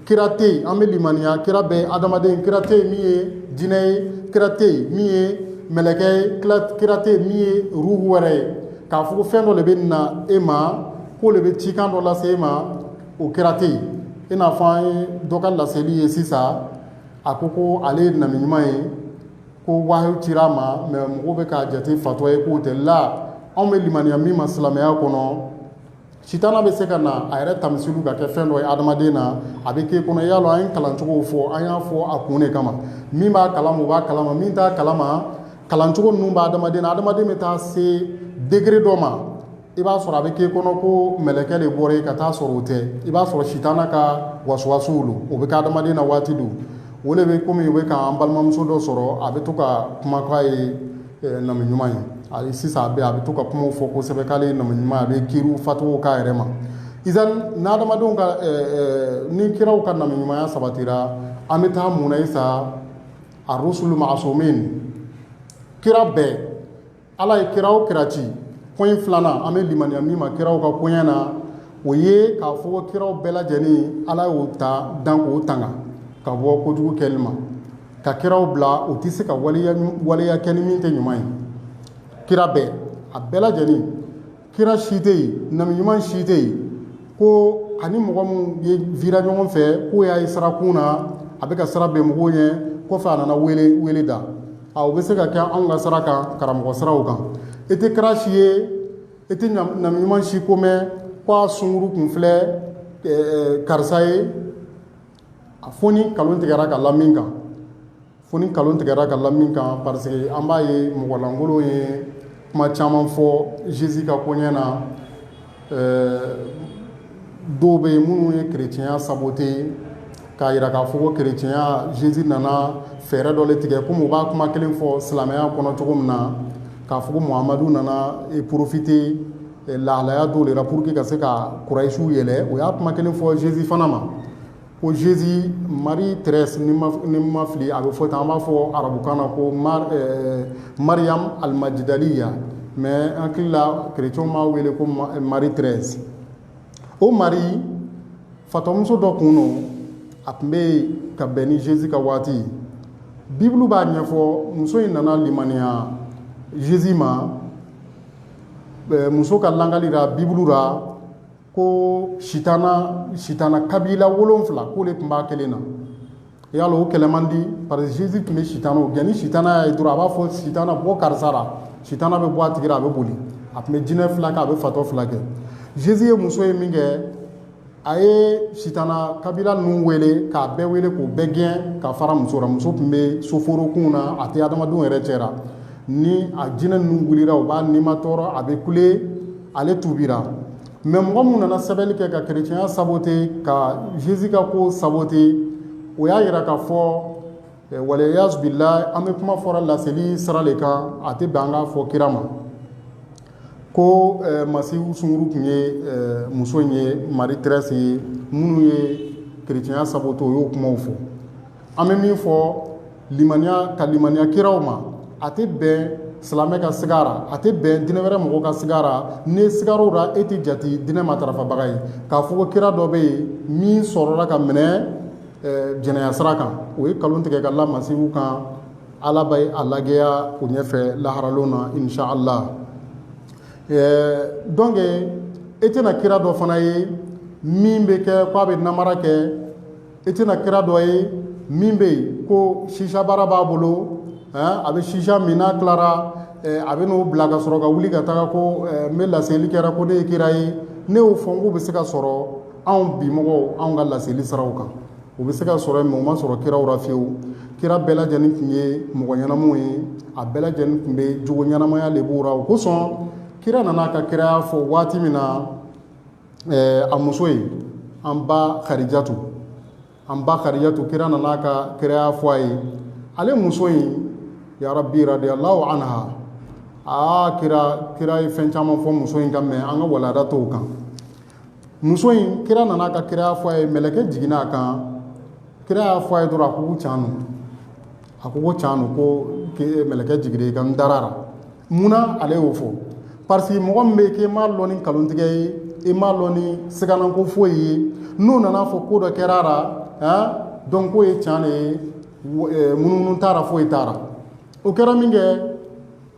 kira tɛ yen an bɛ limaniya kira bɛɛ adamaden kira tɛ yen min ye jinɛ ye kira tɛ yen min ye mɛlɛkɛ ye kira tɛ yen min ye ruhu wɛrɛ ye k'a fɔ ko fɛn dɔ de bɛ na e ma k'o de bɛ cikan dɔ lase e ma o kira tɛ yen i n'a fɔ an ye dɔ ka laseli ye sisan a ko ko ale ye nabi ɲuman ye ko wahayu cira a ma mais mɔgɔw bɛ k'a jate fatɔ ye k'o tɛ la anw bɛ limaniya min ma silamɛya kɔnɔ Sitana bɛ se ka na a yɛrɛ tamisilu ka kɛ fɛn dɔ ye adamaden na a bɛ k'i kɔnɔ y'a lɔn an ye kalancogow fɔ an y'a fɔ a kun de kama min b'a kalama o b'a kalama min t'a kalama kalancogo ninnu b'adamaden na adamaden bɛ taa se degré dɔ ma i b'a sɔrɔ a bɛ k'i kɔnɔ ko mɛlɛkɛ de bɔra i ye ka taa sɔrɔ o tɛ i b'a sɔrɔ sitana ka wasuwasuw don o bɛ kɛ adamaden na waati dɔw o de bɛ kɔmi o bɛ k'an balimamuso dɔ sɔrɔ a bɛ to ka kuma k'a ye nabi ɲuman ye ali sisan a bɛ a bɛ to ka kumaw fɔ kosɛbɛ k'ale ye nabi ɲuman ye a bɛ kiriw fatuwa k'a yɛrɛ ma izan n' adamadenw ka ni kiraw ka nabi ɲumanya sabatira an bɛ taa mun na isa arusulu ma'asumin kira bɛɛ ala ye kira o kira ci point filanan an bɛ limaniya min ma kiraw ka koɲɛ na o ye k'a fɔ kiraw bɛɛ lajɛlen ala y'o ta dan k'o tanga ka bɔ kojugu kɛli ma ka kiraw bila o tɛ se ka waleya kɛ ni min tɛ ɲuman ye kira bɛɛ a bɛɛ lajɛlen kira si tɛ yen nabi ɲuman si tɛ yen ko ani mɔgɔ minnu ye vira ɲɔgɔn fɛ k'o y'a ye sirakun na a bɛ ka sira bɛn mɔgɔw ɲɛ kɔfɛ a nana wele da a o bɛ se ka kɛ anw ka sira kan karamɔgɔ siraw kan e tɛ kira si ye e tɛ nabi ɲuman si ko mɛn ko a sunkuru kun filɛ karisa ye a fo ni nkalon tigɛra ka la min kan fo ni nkalon tigɛra ka la min kan parce que an b'a ye mɔgɔlankolon ye kuma caman fɔ Jésus ka koɲɛ na dɔw bɛ yen minnu ye kerecɛnya sabote k'a jira k'a fɔ ko kerecɛnya Jésus nana fɛɛrɛ dɔ le tigɛ kɔmi u b'a kuma kelen fɔ silamɛya kɔnɔ cogo min na k'a fɔ ko Muhamadu nana profiter lahalaya dɔw de la pour que ka se ka kurayisiw yɛlɛ o y'a kuma kelen fɔ Jésus fana ma ko Jésus Marie Thérèse ni n ma fili a bɛ fɔ tan an b'a fɔ arabukan na ko Mar euh, Mariam al-Majdaliya mais an hakili la chrétiens b'a wele ko Marie Thérèse o Marie fatɔmuso dɔ kun don a tun bɛ yen ka bɛn ni Jésus ka waati ye Bible b'a ɲɛfɔ muso in nana limaniya Jésus ma muso ka lagalira bibulu ra ko sitana sitana kabila wolonfila k'o de tun b'a kelen na yala o kɛlɛ man di parce que Jésus tun bɛ sitanaw gɛn ni sitana y'a ye dɔrɔn a b'a fɔ sitana bɔ karisa ra sitana bɛ bɔ a tigi ra a bɛ boli a tun bɛ jinɛ filakɛ a bɛ fatɔ filakɛ Jésus ye muso ye min kɛ a ye sitana kabila ninnu wele k'a bɛɛ wele k'u bɛɛ gɛn ka fara muso la muso tun bɛ soforokunw na a tɛ adamadenw yɛrɛ cɛra ni a jinɛ ninnu wulira o b'a nimatɔɔrɔ a bɛ kule ale tubira mais mɔgɔ minnu nana sɛbɛnni kɛ ka kerecɛnya sabote ka Jésus ka ko sabote o y'a yira k'a fɔ Walayazubilahi an bɛ kuma fɔra laseli sira de kan a tɛ bɛn an k'a fɔ kira ma ko Masihu sunkuru tun ye muso in ye Marie Thérèse ye minnu ye kerecɛnya sabote o y'o kumaw fɔ an bɛ min fɔ limaniya ka limaniya kiraw ma a tɛ bɛn silamɛ ka sig'a ra a tɛ bɛn diinɛ wɛrɛ mɔgɔ ka sig'a ra n'i sigar'o la e tɛ jate diinɛ matarafabaga ye k'a fɔ ko kira dɔ bɛ yen min sɔrɔla ka minɛ jɛnɛya sira kan o ye nkalon tigɛ ka la Masihu kan Ala bɛ a lagɛya o ɲɛfɛ laharalon na inshallah donc e tɛna kira dɔ fana ye min bɛ kɛ k'a bɛ namara kɛ e tɛna kira dɔ ye min bɛ yen ko shisha baara b'a bolo a bɛ shisha min n'a tilara a bɛ n'o bila ka sɔrɔ ka wuli ka taga ko n bɛ laseli kɛra ko ne ye kira ye ne y'o fɔ n k'o bɛ se ka sɔrɔ anw bi mɔgɔw anw ka laseli siraw kan o bɛ se ka sɔrɔ mɛ o ma sɔrɔ kiraw la fiyewu kira bɛɛ lajɛlen tun ye mɔgɔ ɲɛnamaw ye a bɛɛ lajɛlen tun bɛ jogo ɲɛnamaya de b'u la o kosɔn kira nana a ka kiraya fɔ waati min na a muso ye an ba karijatu an ba karijatu kira nana a ka kiraya fɔ a ye ale muso in yarabi radiyallahu anha aa kira kira ye fɛn caman fɔ muso in kan mɛ an ka walada t'o kan muso in kira nana a ka kiraya fɔ a ye mɛlɛkɛ jiginna a kan kira y'a fɔ a ye dɔrɔn a ko ko can A ko ko can no ko mɛlɛkɛ jiginna i kan n dara a ra munna ale y'o fɔ parce que mɔgɔ min bɛ yen k'i ma dɔn ni nkalontigɛ ye i ma dɔn ni siganako foyi ye n'o nana a fɔ ko dɔ kɛra a la donc k'o ye can de ye munumunu t'a ra foyi t'a ra o kɛra min kɛ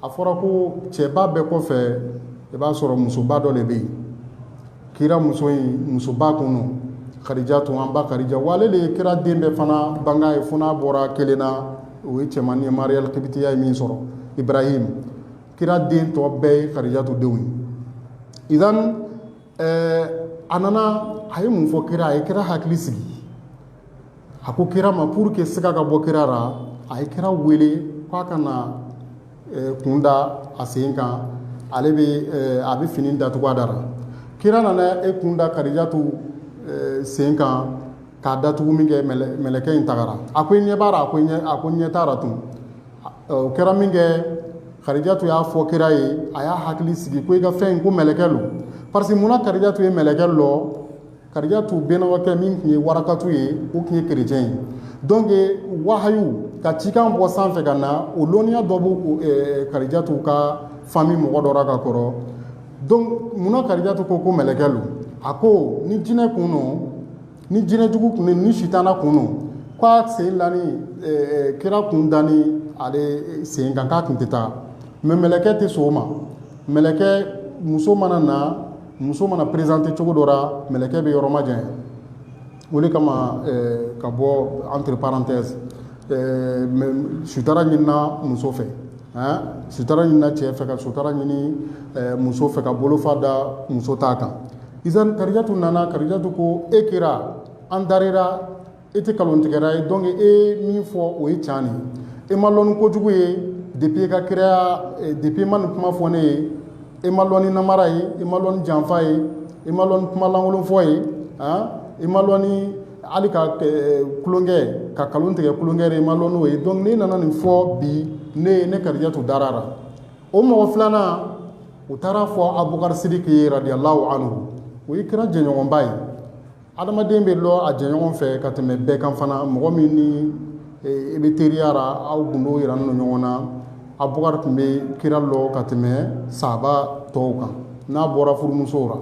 a fɔra ko cɛba bɛɛ kɔfɛ i b'a sɔrɔ musoba dɔ de bɛ yen kira muso in musoba kun no karijatu an ba karija wa ale de ye kira den bɛɛ fana banga ye fo n'a bɔra kelen na o ye cɛmannin ye mariyali kibitiya ye min sɔrɔ ibarahim kira den tɔ bɛɛ ye karijatu denw ye idan Ɛɛ a nana a ye mun fɔ kira a ye kira hakili sigi a ko kira ma pour que siga ka bɔ kira la a ye kira wele k'a ka na kun da a sen kan ale bɛ a bɛ fini datugu a da la kira nana i kun da karijatu sen kan k'a datugu min kɛ mɛlɛkɛ in tagara a ko i ɲɛ b'a ra a ko ɲɛ t'a ra tun O kɛra min kɛ karijatu y'a fɔ kira ye a y'a hakili sigi ko i ka fɛn in ko mɛlɛkɛ lo parce que munna karijatu ye mɛlɛkɛ lɔn karijatu bɛnɔgɔkɛ min tun ye warakatu ye o tun ye kerecɛn ye donc wahayu ka cikan bɔ sanfɛ ka na o dɔnniya dɔ bɛ karijatu ka famille mɔgɔ dɔ la ka kɔrɔ donc munna karijatu ko ko mɛlɛkɛ lo a ko ni jinɛ kun don ni jinɛjugu kun ni sitana kun don k'a sen lanin kira kun danin ale sen kan k'a tun tɛ taa mɛ mɛlɛkɛ tɛ sɔn o ma mɛlɛkɛ muso mana na muso mana présenter cogo dɔ la mɛlɛkɛ bɛ yɔrɔmajanya o de kama ka bɔ entre parenthèses sutara ɲinina muso fɛ sutara ɲinina cɛ fɛ ka sutara ɲini muso fɛ ka bolofa da muso ta kan Izan karijatu nana karijatu ko e kira an dara i ra e tɛ nkalontigɛra ye donc e min fɔ o ye can ne e ma lɔn ni kojugu ye depi ka kira depi i ma nin kuma fɔ ne ye e ma lɔn ni namara ye e ma lɔn ni janfa ye e ma lɔn ni kumalankolonfɔ ye a e ma lɔn ni hali ka tulonkɛ ka nkalon tigɛ tulonkɛ ra e ma lɔn n'o ye donc n'e nana nin fɔ bi ne ye ne karijatu dara a la o mɔgɔ filanan o taara fɔ abubakari siriki ye radiyallahu anhu o ye kira jɛɲɔgɔnba ye adamaden bɛ lɔ a jɛɲɔgɔn fɛ ka tɛmɛ bɛɛ kan fana mɔgɔ min ni i bɛ teriya ra aw gundow yiranin ɲɔgɔn na abubakari tun bɛ kira lɔ ka tɛmɛ sahaba tɔw kan n'a bɔra furumusow la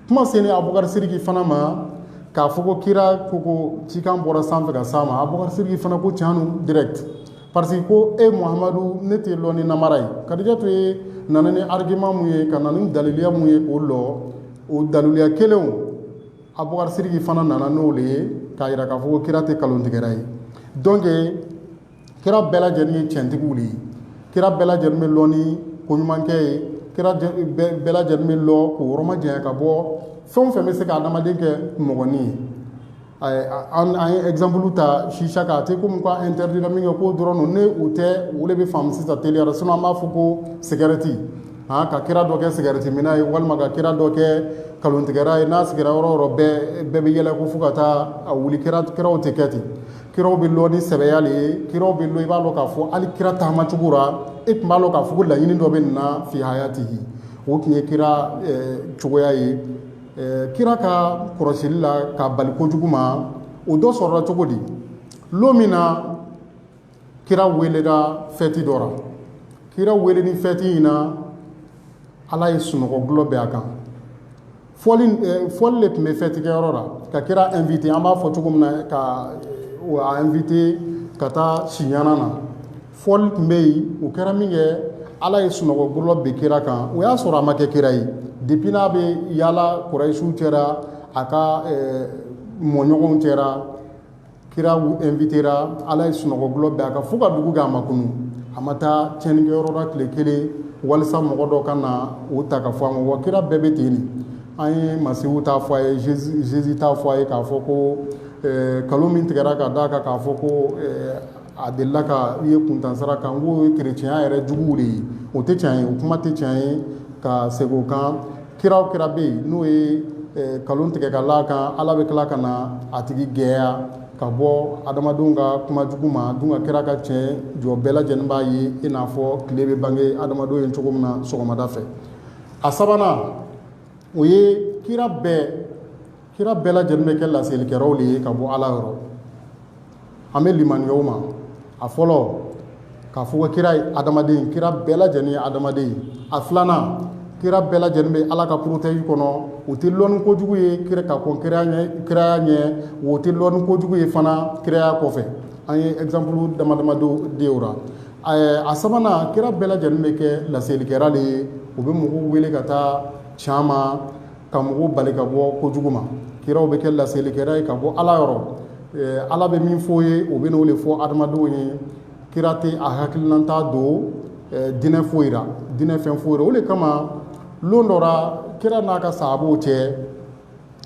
kuma selen abubakari siriki fana ma k'a fɔ ko kira ko ko cikan bɔra sanfɛ ka s'a ma abubakari siriki fana ko can lo direct parce que ko e muhamadu ne t'e lɔ ni namara ye kadijatu ye nana ni argument mun ye ka na ni daliliya mun ye k'o lɔ o daliliya kelenw abubakari siriki fana nana n'o le ye k'a yira k'a fɔ ko kira tɛ kalontigɛra ye donc kira bɛɛ lajɛlen ye cɛntigiw de ye kira bɛɛ lajɛlen bɛ lɔ ni ko ɲumankɛ ye kira bɛɛ lajɛlen bɛ lɔ k'o yɔrɔ majanya ka bɔ fɛn o fɛn bɛ se ka adamaden kɛ mɔgɔnin ye an ye exemple ta chicha kan a tɛ komi k'a interdit la min kɛ k'o dɔrɔn don ne o tɛ o de bɛ faamu sisan teliya la sinon an b'a fɔ ko cigarette aa ka kira dɔ kɛ cigarette minna ye walima ka kira dɔ kɛ nkalontigɛra ye n'a sigira yɔrɔ o yɔrɔ bɛɛ bɛɛ bɛ yɛlɛ ko fo ka taa a wuli kira kiraw tɛ kɛ ten kiraw bɛ lɔ ni sɛbɛya le ye kiraw bɛ lɔ i b'a lɔ k'a fɔ hali kira taama cogo la e tun b'a lɔn k'a fɔ ko laɲini dɔ bɛ nin na fi hayatihi o tun ye kira cogoya ye kira ka kɔrɔsili la k'a bali kojugu ma o dɔ sɔrɔla cogo di lon min na kira welela fɛti dɔ la kira welenin fɛti in na ala ye sunɔgɔ gulɔ bɛ a kan fɔli eh, fɔli le tun bɛ fɛtikɛyɔrɔ la ka kira invité an b'a fɔ cogo min na ka eh, a invité ka taa siɲana na fɔli tun bɛ yen o kɛra min kɛ ala ye sunɔgɔ gulɔ bɛ kira kan o y'a sɔrɔ a ma kɛ kira ye depuis n'a bɛ yaala kurayisiw cɛ ra a ka eh, mɔɲɔgɔnw cɛ ra kira invitera Ala ye sunɔgɔgulɔ bɛn a kan fo ka dugu gɛ a ma kunun, a ma taa tiɲɛnikɛyɔrɔ la tile kelen walisa mɔgɔ dɔ kana o ta k'a fɔ a ma, wa kira bɛɛ bɛ ten de, an ye Masihu ta fɔ a ye, Jésus ta fɔ a ye k'a fɔ ko ɛɛ nkalon min tigɛra ka d'a kan k'a fɔ ko ɛɛ a delila ka i ye kuntansira kan n k'o ye kerecɛnya yɛrɛ juguw de ye o tɛ tiɲɛ ye o kuma tɛ tiɲɛ ye ka segin o kan kira o kira bɛ yen n'o ye nkalon tigɛ ka l'a kan ala bɛ tila ka na a tigi gɛya ka bɔ adamadenw ka kuma jugu ma dun ka kira ka tiɲɛ jɔ bɛɛ lajɛlen b'a ye i n'a fɔ tile bɛ bange adamadenw ye cogo min na sɔgɔmada fɛ a sabanan o ye kira bɛɛ kira bɛɛ lajɛlen bɛ kɛ laselikɛlaw de ye ka bɔ ala yɔrɔ an bɛ limaniya o ma a fɔlɔ k'a fɔ ko kira ye adamaden kira bɛɛ lajɛlen ye adamaden ye a filanan kira bɛɛ lajɛlen bɛ ala ka porotɛji kɔnɔ o tɛ lɔn ni kojugu ye kira ka kɔn kiraya ɲɛ o tɛ lɔn ni kojugu ye fana kiraya kɔfɛ an ye ɛgzanpulu dama dama di o la a sabanan kira bɛɛ lajɛlen bɛ kɛ laselikɛla de ye o bɛ mɔgɔw wele ka taa can ma ka mɔgɔw bali ka bɔ kojugu ma kiraw bɛ kɛ laselikɛla ye ka bɔ ala yɔrɔ ala bɛ min fɔ ye o bɛ n'o de fɔ adamadenw ye kira tɛ a hakilinata don dinɛ foyi ra dinɛ fɛn foyi ra o de kama don dɔ ra kira n'a ka sahabaw cɛ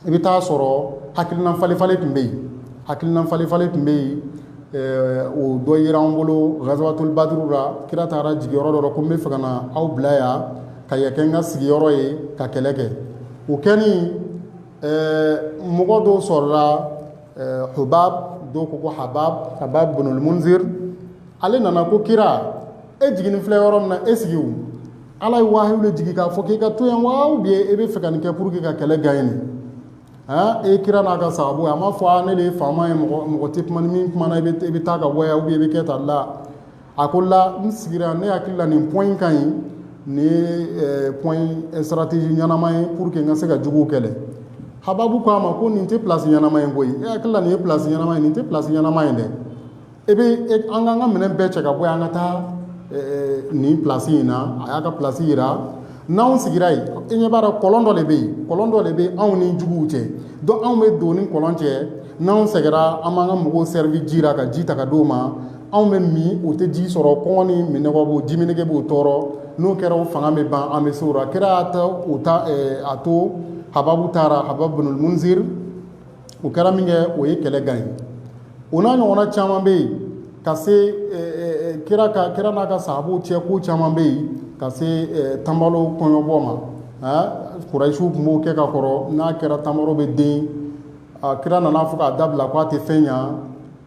i bɛ taa sɔrɔ hakilinafalenfalen tun bɛ yen hakilinafalenfalen tun bɛ yen o dɔ yira an bolo gazawatul badru la kira taara jigin yɔrɔ dɔ rɔ ko n bɛ fɛ ka na aw bila yan ka yen kɛ n ka sigiyɔrɔ ye ka kɛlɛ kɛ o kɛlen mɔgɔ dɔw sɔrɔla hubab dɔw ko ko habab habab binil munzir ale nana ko kira e jiginnen filɛ yɔrɔ min na e sigi o ala ye wahiyu de jigin k'a fɔ k'i ka to yan wa ou bien e bɛ fɛ ka nin kɛ pour que ka kɛlɛ gagner e kira n'a ka sahabaw a ma fɔ ne de ye faama ye mɔgɔ tɛ kuma ni min kumana i bɛ taa ka bɔ yan ou bien i bɛ kɛ tan la a ko la n sigira ne hakili la nin point in ka ɲi nin ye point eh, stratégie ɲɛnama ye pour que n ka se ka juguw kɛlɛ hababu ko a ma ko nin tɛ place ɲɛnama ye koyi e hakili la nin ye place ɲɛnama ye nin tɛ place ɲɛnama ye dɛ e bɛ e, an k'an ka minɛn bɛɛ cɛ ka bɔ yan an ka taa eh, nin place in na a y'a ka place yira n'anw sigira yen e ɲɛ b'a dɔn kɔlɔn dɔ de bɛ yen kɔlɔn dɔ de bɛ anw ni juguw cɛ donc anw bɛ don ni kɔlɔn cɛ n'anw sɛgɛra an b'an ka mɔgɔw servi ji la ka ji ta ka d'u ma anw bɛ min o tɛ ji sɔrɔ kɔngɔ ni minnɔgɔ b'o jiminnege b'o tɔɔrɔ n'o kɛra o fanga bɛ ban an bɛ se o ra kira y'a to hababu taara hababu binil munzir o kɛra min kɛ o ye kɛlɛ gagner o n'a ɲɔgɔnna caman bɛ yen ka se kira n'a ka sahabaw cɛ ko caman bɛ yen ka se tamaro kɔɲɔbɔ ma aa kurayisiw tun b'o kɛ ka kɔrɔ n'a kɛra tamaro bɛ den a kira nana fɔ k'a dabila k'a tɛ fɛn ɲɛ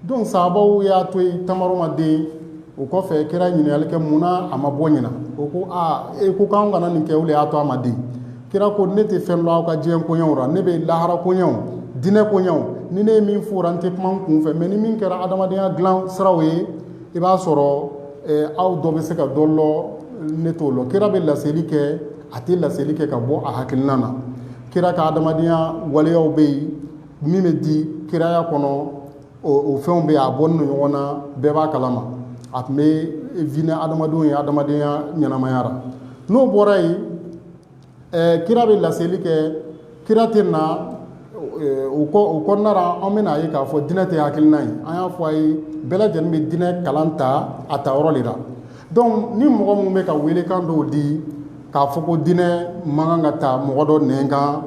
donc sahabaw y'a to yen tamaro ma den o kɔfɛ kira ɲininkali kɛ mun na a ma bɔ ɲinan o ko aa e ko k'an kana nin kɛ o de y'a to a ma den kira ko ne tɛ fɛn lɔn aw ka diɲɛ koɲɛw la ne bɛ lahara koɲɛw diinɛ koɲɛw ni ne ye min fɔra n tɛ kuma n kun fɛ mais ni min kɛra adamadenya dilan siraw ye i b'a sɔrɔ aw dɔ bɛ se ka dɔ lɔn ne t'o lɔn kira bɛ laseli kɛ a tɛ laseli kɛ ka bɔ a hakilina na kira ka adamadenya waleyaw bɛ yen min bɛ di kiraya kɔnɔ o fɛnw bɛ a bɔnin don ɲɔgɔn na bɛɛ b'a kalama a tun bɛ vi ni adamadenw ye adamadenya ɲɛnamaya ra n'o bɔra yen kira bɛ laseli kɛ kira tɛ na o kɔnɔna ra an bɛna a ye k'a fɔ dinɛ tɛ hakilina ye an y'a fɔ a ye bɛɛ lajɛlen bɛ dinɛ kalan ta a ta yɔrɔ de la donc ni mɔgɔ minnu bɛ ka weelekan dɔw di k'a fɔ ko dinɛ man kan ka ta mɔgɔ dɔ nɛn kan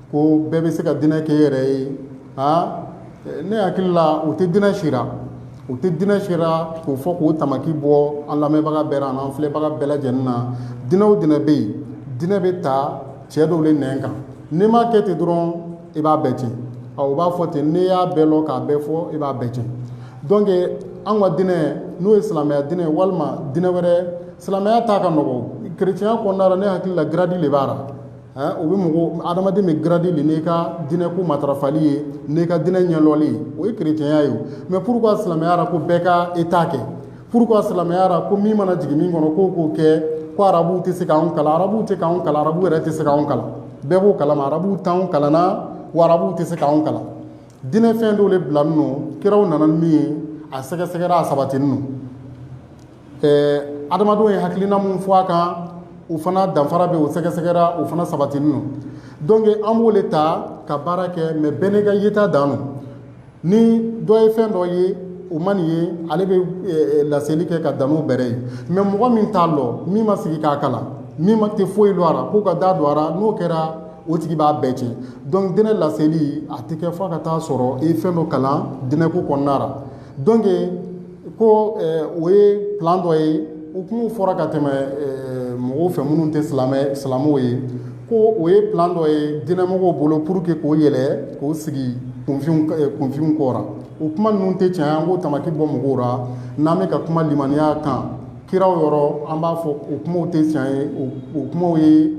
ko bɛɛ bɛ se ka diinɛ kɛ i yɛrɛ ye aa ne hakili la o tɛ diinɛ sira o tɛ diinɛ sira k'o fɔ k'o tamaki bɔ an lamɛnbaga bɛɛ ra an an filɛbaga bɛɛ lajɛlen na diinɛ o diinɛ bɛ yen diinɛ bɛ ta cɛ dɔw de nɛn kan n'i m'a kɛ ten dɔrɔn i b'a bɛɛ tiɲɛ ɔ u b'a fɔ ten n'i y'a bɛɛ dɔn k'a bɛɛ fɔ i b'a bɛɛ tiɲɛ donc an ka diinɛ n'o ye silamɛya diinɛ walima diinɛ wɛrɛ silamɛya ta ka nɔgɔ kerecɛnya kɔnɔna ra ne hakili la gradi de b'a la o bɛ mɔgɔ adamaden bɛ gradi de n'i ka diinɛko matarafali ye n'i ka diinɛ ɲɛdɔnli ye o ye kerecɛnya ye mais pourquoi silamɛya ra ko bɛɛ ka i ta kɛ pourquoi silamɛya ra ko min mana jigin min kɔnɔ k'o k'o kɛ ko arabu tɛ se k'an kalan arabu tɛ k'an kalan arabu yɛrɛ tɛ se k'an kalan bɛɛ b'o kalama arabu t'an kalanna wa arabu tɛ se k'an kalan diinɛ fɛn dɔw de bilanin don kiraw nana ni min ye a sɛgɛsɛgɛra a sabatinin don adamadenw ye hakilina min fɔ a kan o fana danfara bɛ o sɛgɛsɛgɛra o fana sabatinin don donc an b'o de ta ka baara kɛ mais bɛɛ n'i ka yeta dan don ni dɔ ye fɛn dɔ ye o ma nin ye ale bɛ laseli kɛ ka dan n'o bɛrɛ ye mais mɔgɔ min t'a dɔn min ma sigi k'a kalan min ma tɛ foyi dɔn a ra k'u ka da don a ra n'o kɛra o tigi b'a bɛɛ tiɲɛ donc diinɛ laseli a tɛ kɛ fɔ ka taa sɔrɔ i fɛn dɔ kalan diinɛko kɔnɔna donc ko o ye plan dɔ ye o kumaw fɔra ka tɛmɛ mɔgɔw fɛ minnu tɛ silamɛw ye ko o ye plan dɔ ye diinɛmɔgɔw bolo pour que k'o yɛlɛ k'o sigi kunfinw kɔ ra o kuma ninnu tɛ tiɲɛ ye an k'o tamaki bɔ mɔgɔw la n'an bɛ ka kuma limaniya kan kiraw yɔrɔ an b'a fɔ o kumaw tɛ tiɲɛ ye o kumaw ye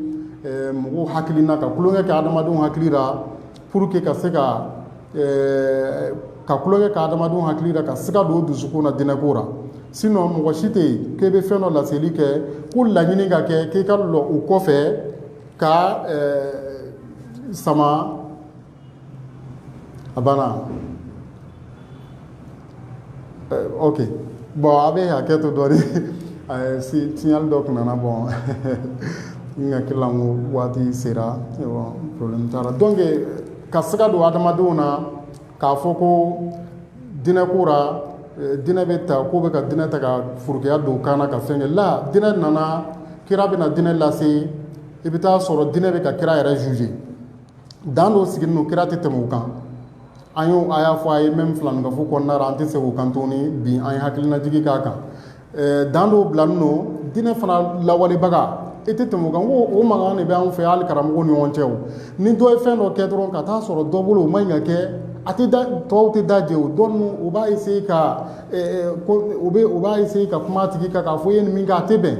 mɔgɔw hakilina ka tulonkɛ kɛ adamadenw hakili la Pour que ka se ka ka tulonkɛ kɛ adamadenw hakili la ka siga don u dusukun na diinɛko ra sinon mɔgɔ si tɛ yen k'e bɛ fɛn dɔ laseli kɛ k'o laɲini ka kɛ k'i ka dɔn o kɔfɛ ka sama a banna ok bon a bɛ hakɛ to dɔɔni signal dɔ tun nana bɔ n hakili la ko waati sera problème t'a ra donc ka siga don adamadenw na k'a fɔ ko diinɛko ra diinɛ bɛ ta k'u bɛ ka diinɛ ta ka furukeya don kan na ka fɛn kɛ la diinɛ nana kira bɛna diinɛ lase i bɛ taa sɔrɔ dinɛ bɛ ka kira yɛrɛ juger dan dɔw sigilen don kira tɛ tɛmɛ u kan an y'o a y'a fɔ a ye même filaninkafo kɔnɔna la an tɛ segin o kan tuguni bi an ye hakilinajigi k'a kan dan dɔw bilalen don diinɛ fana lawalebaga i tɛ tɛmɛ o kan ko o mankan de bɛ anw fɛ hali karamɔgɔw ni ɲɔgɔn cɛ o ni dɔ ye fɛn dɔ kɛ dɔrɔn ka taa sɔrɔ dɔ bolo o man ɲi ka kɛ a tɛ tɔw tɛ da jɛ o dɔ u b'a essayer ka u b'a essayer ka kuma a tigi kan k'a fɔ e ye nin min kɛ a tɛ bɛn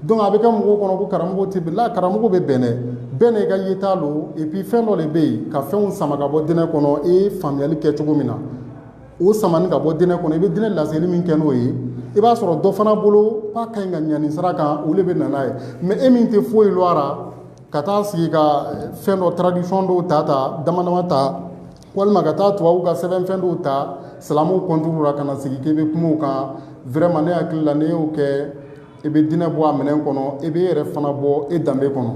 donc a bɛ kɛ mɔgɔw kɔnɔ ko karamɔgɔ tɛ bɛn la karamɔgɔ bɛ bɛn dɛ bɛɛ n'i ka yeta don et puis fɛn dɔ de bɛ yen ka fɛnw sama ka bɔ diinɛ kɔnɔ e ye faamuyali kɛ cogo min na o sama ka bɔ diinɛ kɔnɔ i bɛ diinɛ laseli min kɛ n'o ye i b'a sɔrɔ dɔ fana bolo k'a ka ɲi ka ɲa nin sira kan o de bɛ na n'a ye mais e min tɛ foyi lɔn a la ka taa sigi ka fɛn dɔ tradition dɔw ta dama dama ta walima ka taa tubabuw ka sɛbɛnfɛn dɔw ta silamɛw contre la ka na sigi k'i bɛ kuma o kan vraiment ne hakili la n'i y'o kɛ i bɛ diinɛ bɔ a minɛn kɔnɔ i bɛ i yɛrɛ fana bɔ e danbe kɔnɔ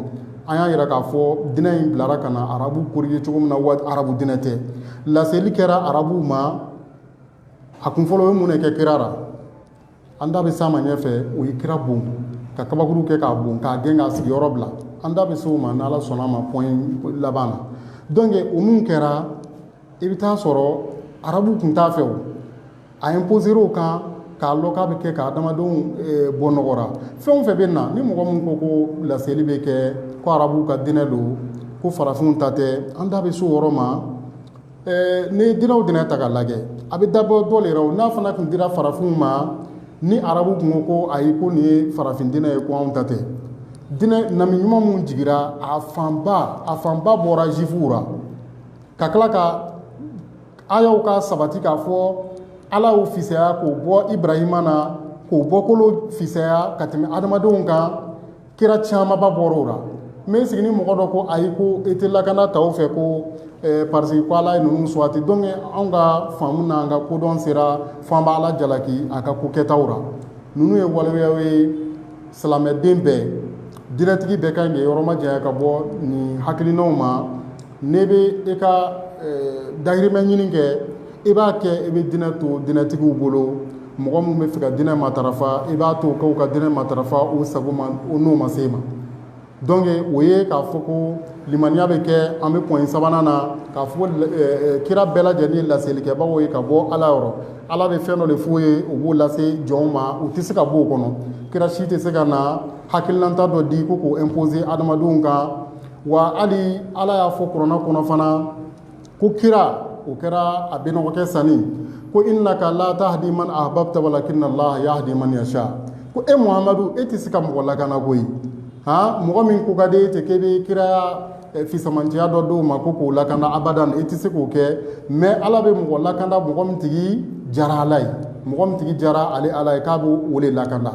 an y'a yira k'a fɔ diinɛ in bilara ka na arabu corriger cogo min na wa arabu diinɛ tɛ laseli kɛra arabuw ma a kun fɔlɔ ye mun de kɛ kira la an da bɛ s'a ma ɲɛfɛ o ye kira bon ka kabakuru kɛ k'a bon k'a gɛn k'a sigiyɔrɔ bila an da bɛ se o ma n'ala sɔnna a ma point laban na donc o min kɛra i bɛ taa sɔrɔ arabu tun t'a fɛ o a imposer o kan k'a lɔ k'a bɛ kɛ ka adamadenw eh, bɔ nɔgɔ ra fɛn o fɛn bɛ na ni mɔgɔ min ko ko laseli bɛ kɛ ko arabuw ka dinɛ don ko farafinw ta tɛ an da bɛ se o yɔrɔ ma eh, n'i ye dinɛw dinɛ ta ka lajɛ a bɛ dabɔ dɔ le ra o n'a fana tun dira farafinw ma ni arabu tun ko ko ayi ko nin ye farafin dinɛ ye ko anw ta tɛ dinɛ nabi ɲuman minnu jigira a fanba a fanba bɔra juwifuw ra ka tila ka ayaw ka sabati k'a fɔ ala y'u fisaya k'o bɔ ibrahima na k'o bɔkolo fisaya ka tɛmɛ adamadenw kan kira camanba bɔra o la mais sigi ni mɔgɔ dɔ ko ayi ko e tɛ lakana ta o fɛ ko eh, parce que ko ala ye ninnu suwati donc anw ka faamu n'an ka kodɔn sera fo an b'ala jalaki a ka ko kɛtaw la ninnu ye waleyaw ye silamɛden bɛɛ diinɛtigi bɛɛ ka ɲi k'i yɔrɔ majanya ka bɔ nin hakilinaw ma n'i bɛ i ka dahirimɛ ɲini kɛ i b'a kɛ i bɛ diinɛ to diinɛtigiw bolo mɔgɔ minnu bɛ fɛ ka diinɛ matarafa i b'a to k'u ka diinɛ matarafa u sago ma u n'u ma se ma donc o ye k'a fɔ ko limaniya bɛ kɛ an bɛ point sabanan na k'a fɔ kira bɛɛ lajɛlen ye laselikɛbagaw ye ka bɔ ala yɔrɔ ala bɛ fɛn dɔ de f'u ye u b'o lase jɔnw ma u tɛ se ka bɔ o kɔnɔ kira si tɛ se ka na hakilinata dɔ di ko k'o imposer hadamadenw kan wa hali ala y'a fɔ kurana kɔnɔ fana ko kira o kɛra a bɛnɔgɔkɛ sanni ko innaka la tahdi man ahbabta walakinna allaha yahdi man yasha ko e muhamadu e tɛ se ka mɔgɔ lakana koyi han mɔgɔ min ko ka di e ye ten k'e bɛ kiraya fisamantiya dɔ d'o ma ko k'o lakana abada e tɛ se k'o kɛ mais ala bɛ mɔgɔ lakanda mɔgɔ min tigi jara ala ye mɔgɔ min tigi jara ale ala ye k'a bɛ o de lakanda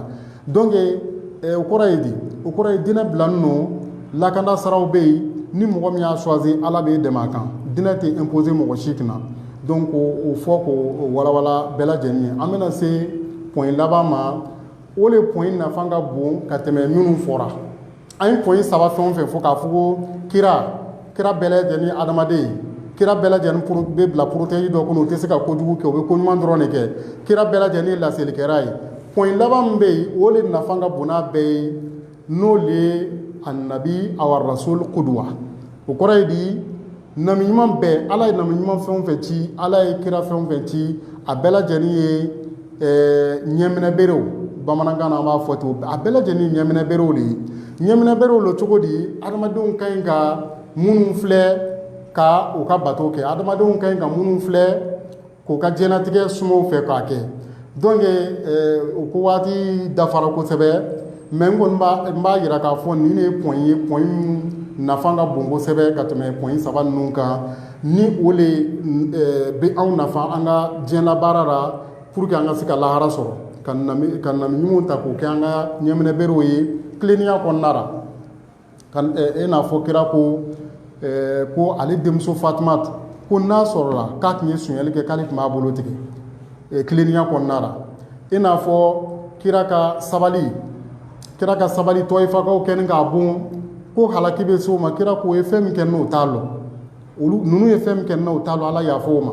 donc o kɔrɔ ye di? o kɔrɔ ye dinɛ bilanen don lakana siraw bɛ yen ni mɔgɔ min y'a choisi Ala b'i dɛmɛ a kan dinɛ tɛ imposer mɔgɔ si kunna donc o fɔ k'o walawala bɛɛ lajɛlen ye an bɛna se point laban ma o de point nafa ka bon ka tɛmɛ minnu fɔra an ye point saba fɛn o fɛn fɔ k'a fɔ ko kira kira bɛɛ lajɛlen adamaden ye kira bɛɛ lajɛlen bɛ bila protégé dɔ kɔnɔ u tɛ se ka kojugu kɛ u bɛ ko ɲuman dɔrɔn de kɛ kira bɛɛ lajɛlen laselikɛla ye point laban min bɛ yen o de nafa ka bon n'a bɛɛ ye n'o de ye annabi aw arrasul kuduwa o kɔrɔ ye di nabi ɲuman bɛɛ ala ye nabi ɲuman fɛn o fɛn ci ala ye kira fɛn o fɛn ci a bɛɛ lajɛlen ye ɲɛminɛ berew bamanankan na an b'a fɔ ten a bɛɛ lajɛlen ye ɲɛminɛ berew de ye ɲɛminɛ berew lo cogo di adamadenw ka ɲi ka minnu filɛ ka u ka bato kɛ adamadenw ka ɲi ka minnu filɛ k'u ka diɲɛnatigɛ suma o fɛ k'a kɛ donc o ko waati dafara kosɛbɛ mais n kɔni n b'a jira k'a fɔ nin de ye point ye point nafa ka bon kosɛbɛ ka tɛmɛ point saba ninnu kan ni o de bɛ anw nafa an ka diɲɛlabaara la pour que an ka se ka lahara sɔrɔ ka nabi ɲumanw ta k'o kɛ an ka ɲɛminɛ berew ye tilennenya kɔnɔna ra i n'a fɔ kira ko ko ale denmuso fatuma ko n'a sɔrɔla k'a tun ye sonyali kɛ k'ale tun b'a bolo tigɛ tilennenya kɔnɔna ra i n'a fɔ kira ka sabali kira ka sabali tɔyifakaw kɛni k'a bon ko halaki bɛ se o ma kira k'o ye fɛn min kɛ n na o t'a lɔn olu ninnu ye fɛn min kɛ n na o t'a lɔn ala y'a fɔ o ma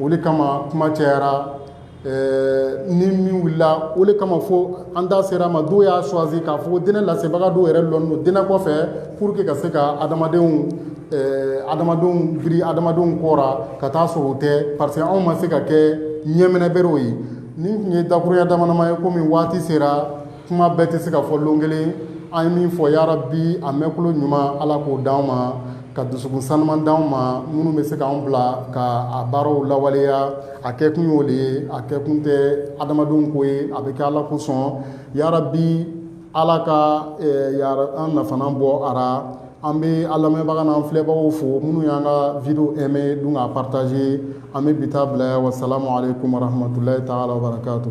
o de kama kuma cayara ɛɛ ni min wulila o de kama fo an da sera a ma dɔw y'a choisi k'a fɔ ko diinɛ lasebaga dɔw yɛrɛ lɔnnen don diinɛ kɔfɛ pour que ka se ka adamadenw ɛɛ adamadenw biri adamadenw kɔ ra ka taa sɔrɔ o tɛ parce que anw ma se ka kɛ ɲɛminɛberew ye nin tun ye dakuruya damadama ye komi waati sera kuma bɛɛ tɛ se ka fɔ lon kelen an ye min fɔ yarabi a mɛnkolo ɲuman ala k'o d'anw ma ka dusukun saniman d'anw ma minnu bɛ se k'an bila ka a baaraw lawaleya a kɛ kun y'o de ye a kɛ kun tɛ adamadenw ko ye a bɛ kɛ ala kosɔn yarabi ala ka an nafa bɔ a ra an bɛ an lamɛnbaga n'an filɛbagaw fo minnu y'an ka vidéo aimer dun k'a partager an bɛ bi taa bila yan wasalamu aleykum warahmatulahi taala wabarakatu